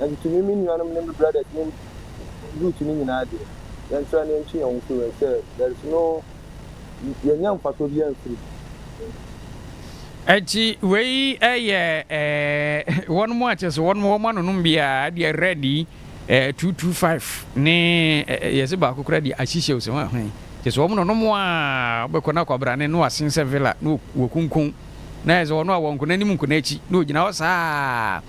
Nanso me, me nuanom ne me brada din Ruth no nyinaa deɛ, yɛnsra na yɛntwe yɛn ho mfiri mu, ɛfisɛ there is no yɛnnya mfasoɔ biara mfiri mu.
Enti wei yɛ wɔn a kyerɛ sɛ wɔn wɔn anonom biara deɛ red yi two two five ne yɛsɛ baako kura deɛ ahyehyɛ ose wɔn ahwɛn kyerɛ sɛ wɔn nonom a wɔbɛkɔ na akwabrane na wasen sɛ villa na wɔkunkun na yɛ sɛ wɔn a wɔn nkona anim nkona akyi na wɔgyina hɔ saa.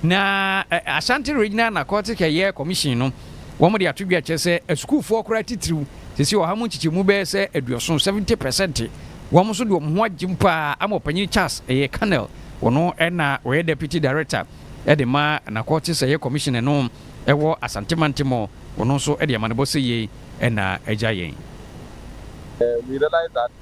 Na Ashanti Regional Narcotic Ɛyɛ Commission no, wɔde ato dwa kyerɛ sɛ asukuufoɔ koraa titiriw, seesei ɔha mu nkyekyɛmu bɛyɛ sɛ aduɔson, seventy percent, wɔn nso de wɔn ho agyem pa ara ama Ɔpanyin Charles Ɛyɛ Cannell, ɔno na ɔyɛ Deputy Director de ma Narcotics Ɛyɛ Commission no wɔ Asante Mantamu, ɔno nso de amanebɔ sɛ yei na agya yɛn. We realize
that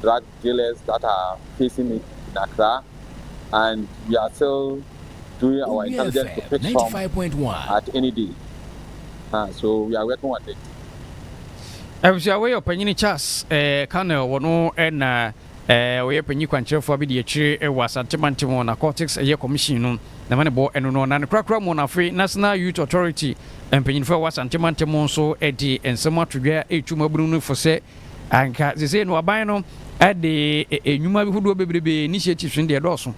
drug dealers that are facing it in Accra and we are still doing our intelligence to pick some at any day. Uh, so we are working on it.
abusua wei ɔpanyini charles eh, canel wɔ no eh, na eh, ɔyɛ panyin kwankyerɛfoɔ bi de akyire eh, wɔ asante mantam wɔ narcotics ɛyɛ eh, commission no na ma ne bɔ ɛno no na ne korakora mu no afei national youth authority mpanyinfoɔ ɛwɔ asante mantam nso eh, de nsɛm ato dwa ɛretu mu abunu no fo sɛ Anka sesei no aban no de nnwuma bi hodoɔ bebrebe, initiatives, no deɛ ɛdɔɔso.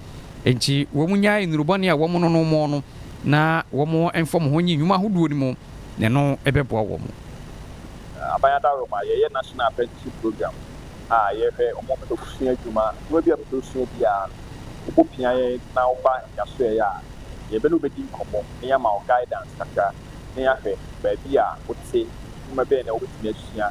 Enti wɔn nyae nnuru bɔne a wɔn no no mɔ no na wɔn mfa wɔn ho nyi nnwuma ahodoɔ no mu na ɛno bɛboa wɔn. Aban
adaworoma, yɛyɛ National Apprenticeship Program a yɛhwɛ wɔn a wɔpɛ sɛ wɔsua adwuma. Adwuma bi a wopɛ sɛ wosua biara no, wobopia yɛn na woba nyasoɛeɛ a, yɛbɛne wo bɛdi nkɔmmɔ na yɛama wo guidance kakra na yɛahwɛ baabi a wote, nnwuma bɛn na wobɛtumi asua.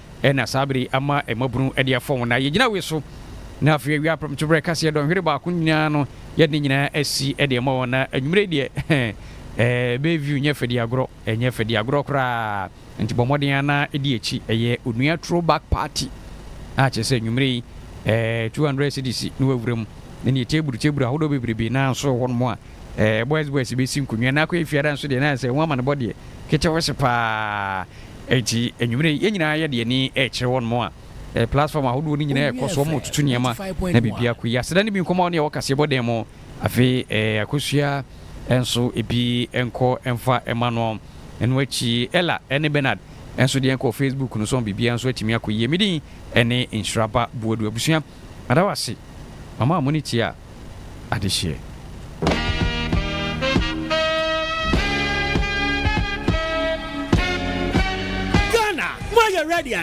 Ɛna saa bere yi ama mmabunu de afɔn wɔn a yegyina we so na afei awia prɛmtoberɛ kaseɛ dɔnhwere baako nyinaa no yɛde ne nyinaa asi de ama wɔn na anwumerɛ yi deɛ ɛɛ bay view nyɛ fɛdi agorɔ ɛnyɛ fɛdi agorɔ koraa nti bɔ mmɔden ara na ɛdi akyi ɛyɛ onua throw back party a kyerɛ sɛ anwumerɛ yi ɛɛ 200 cedis na wawura mu ne neɛ table table ahodoɔ bebrebe na nso wɔ hɔnom a ɛɛ boys boys bɛsi nkonnwa na akɔyɛ fiada nso deɛ na ayɛ sɛ ho amanebɔ deɛ ketewese paa Enti anwummere yi, yɛn nyinaa yɛde yɛn ani rekyerɛ wɔn a ɛyɛ platform ahodoɔ no nyinaa ɛkɔ so, wɔretutu nneɛma na biribi akɔ yie. Aseda no bi nkɔmmɔ a wo ne yɛwɔ kaseɛbɔ dan mu, afei eh, akosua nso ebi nkɔ mfa mma no. Ɛno akyi, Ella ne Bernard nso deɛ nkɔ Facebook no so, biribiara nso atumi akɔ yie. Me din ne Nhyira Ba Boadu. Abusua. Meda wo ase ma mo a mone tia
adehyeɛ.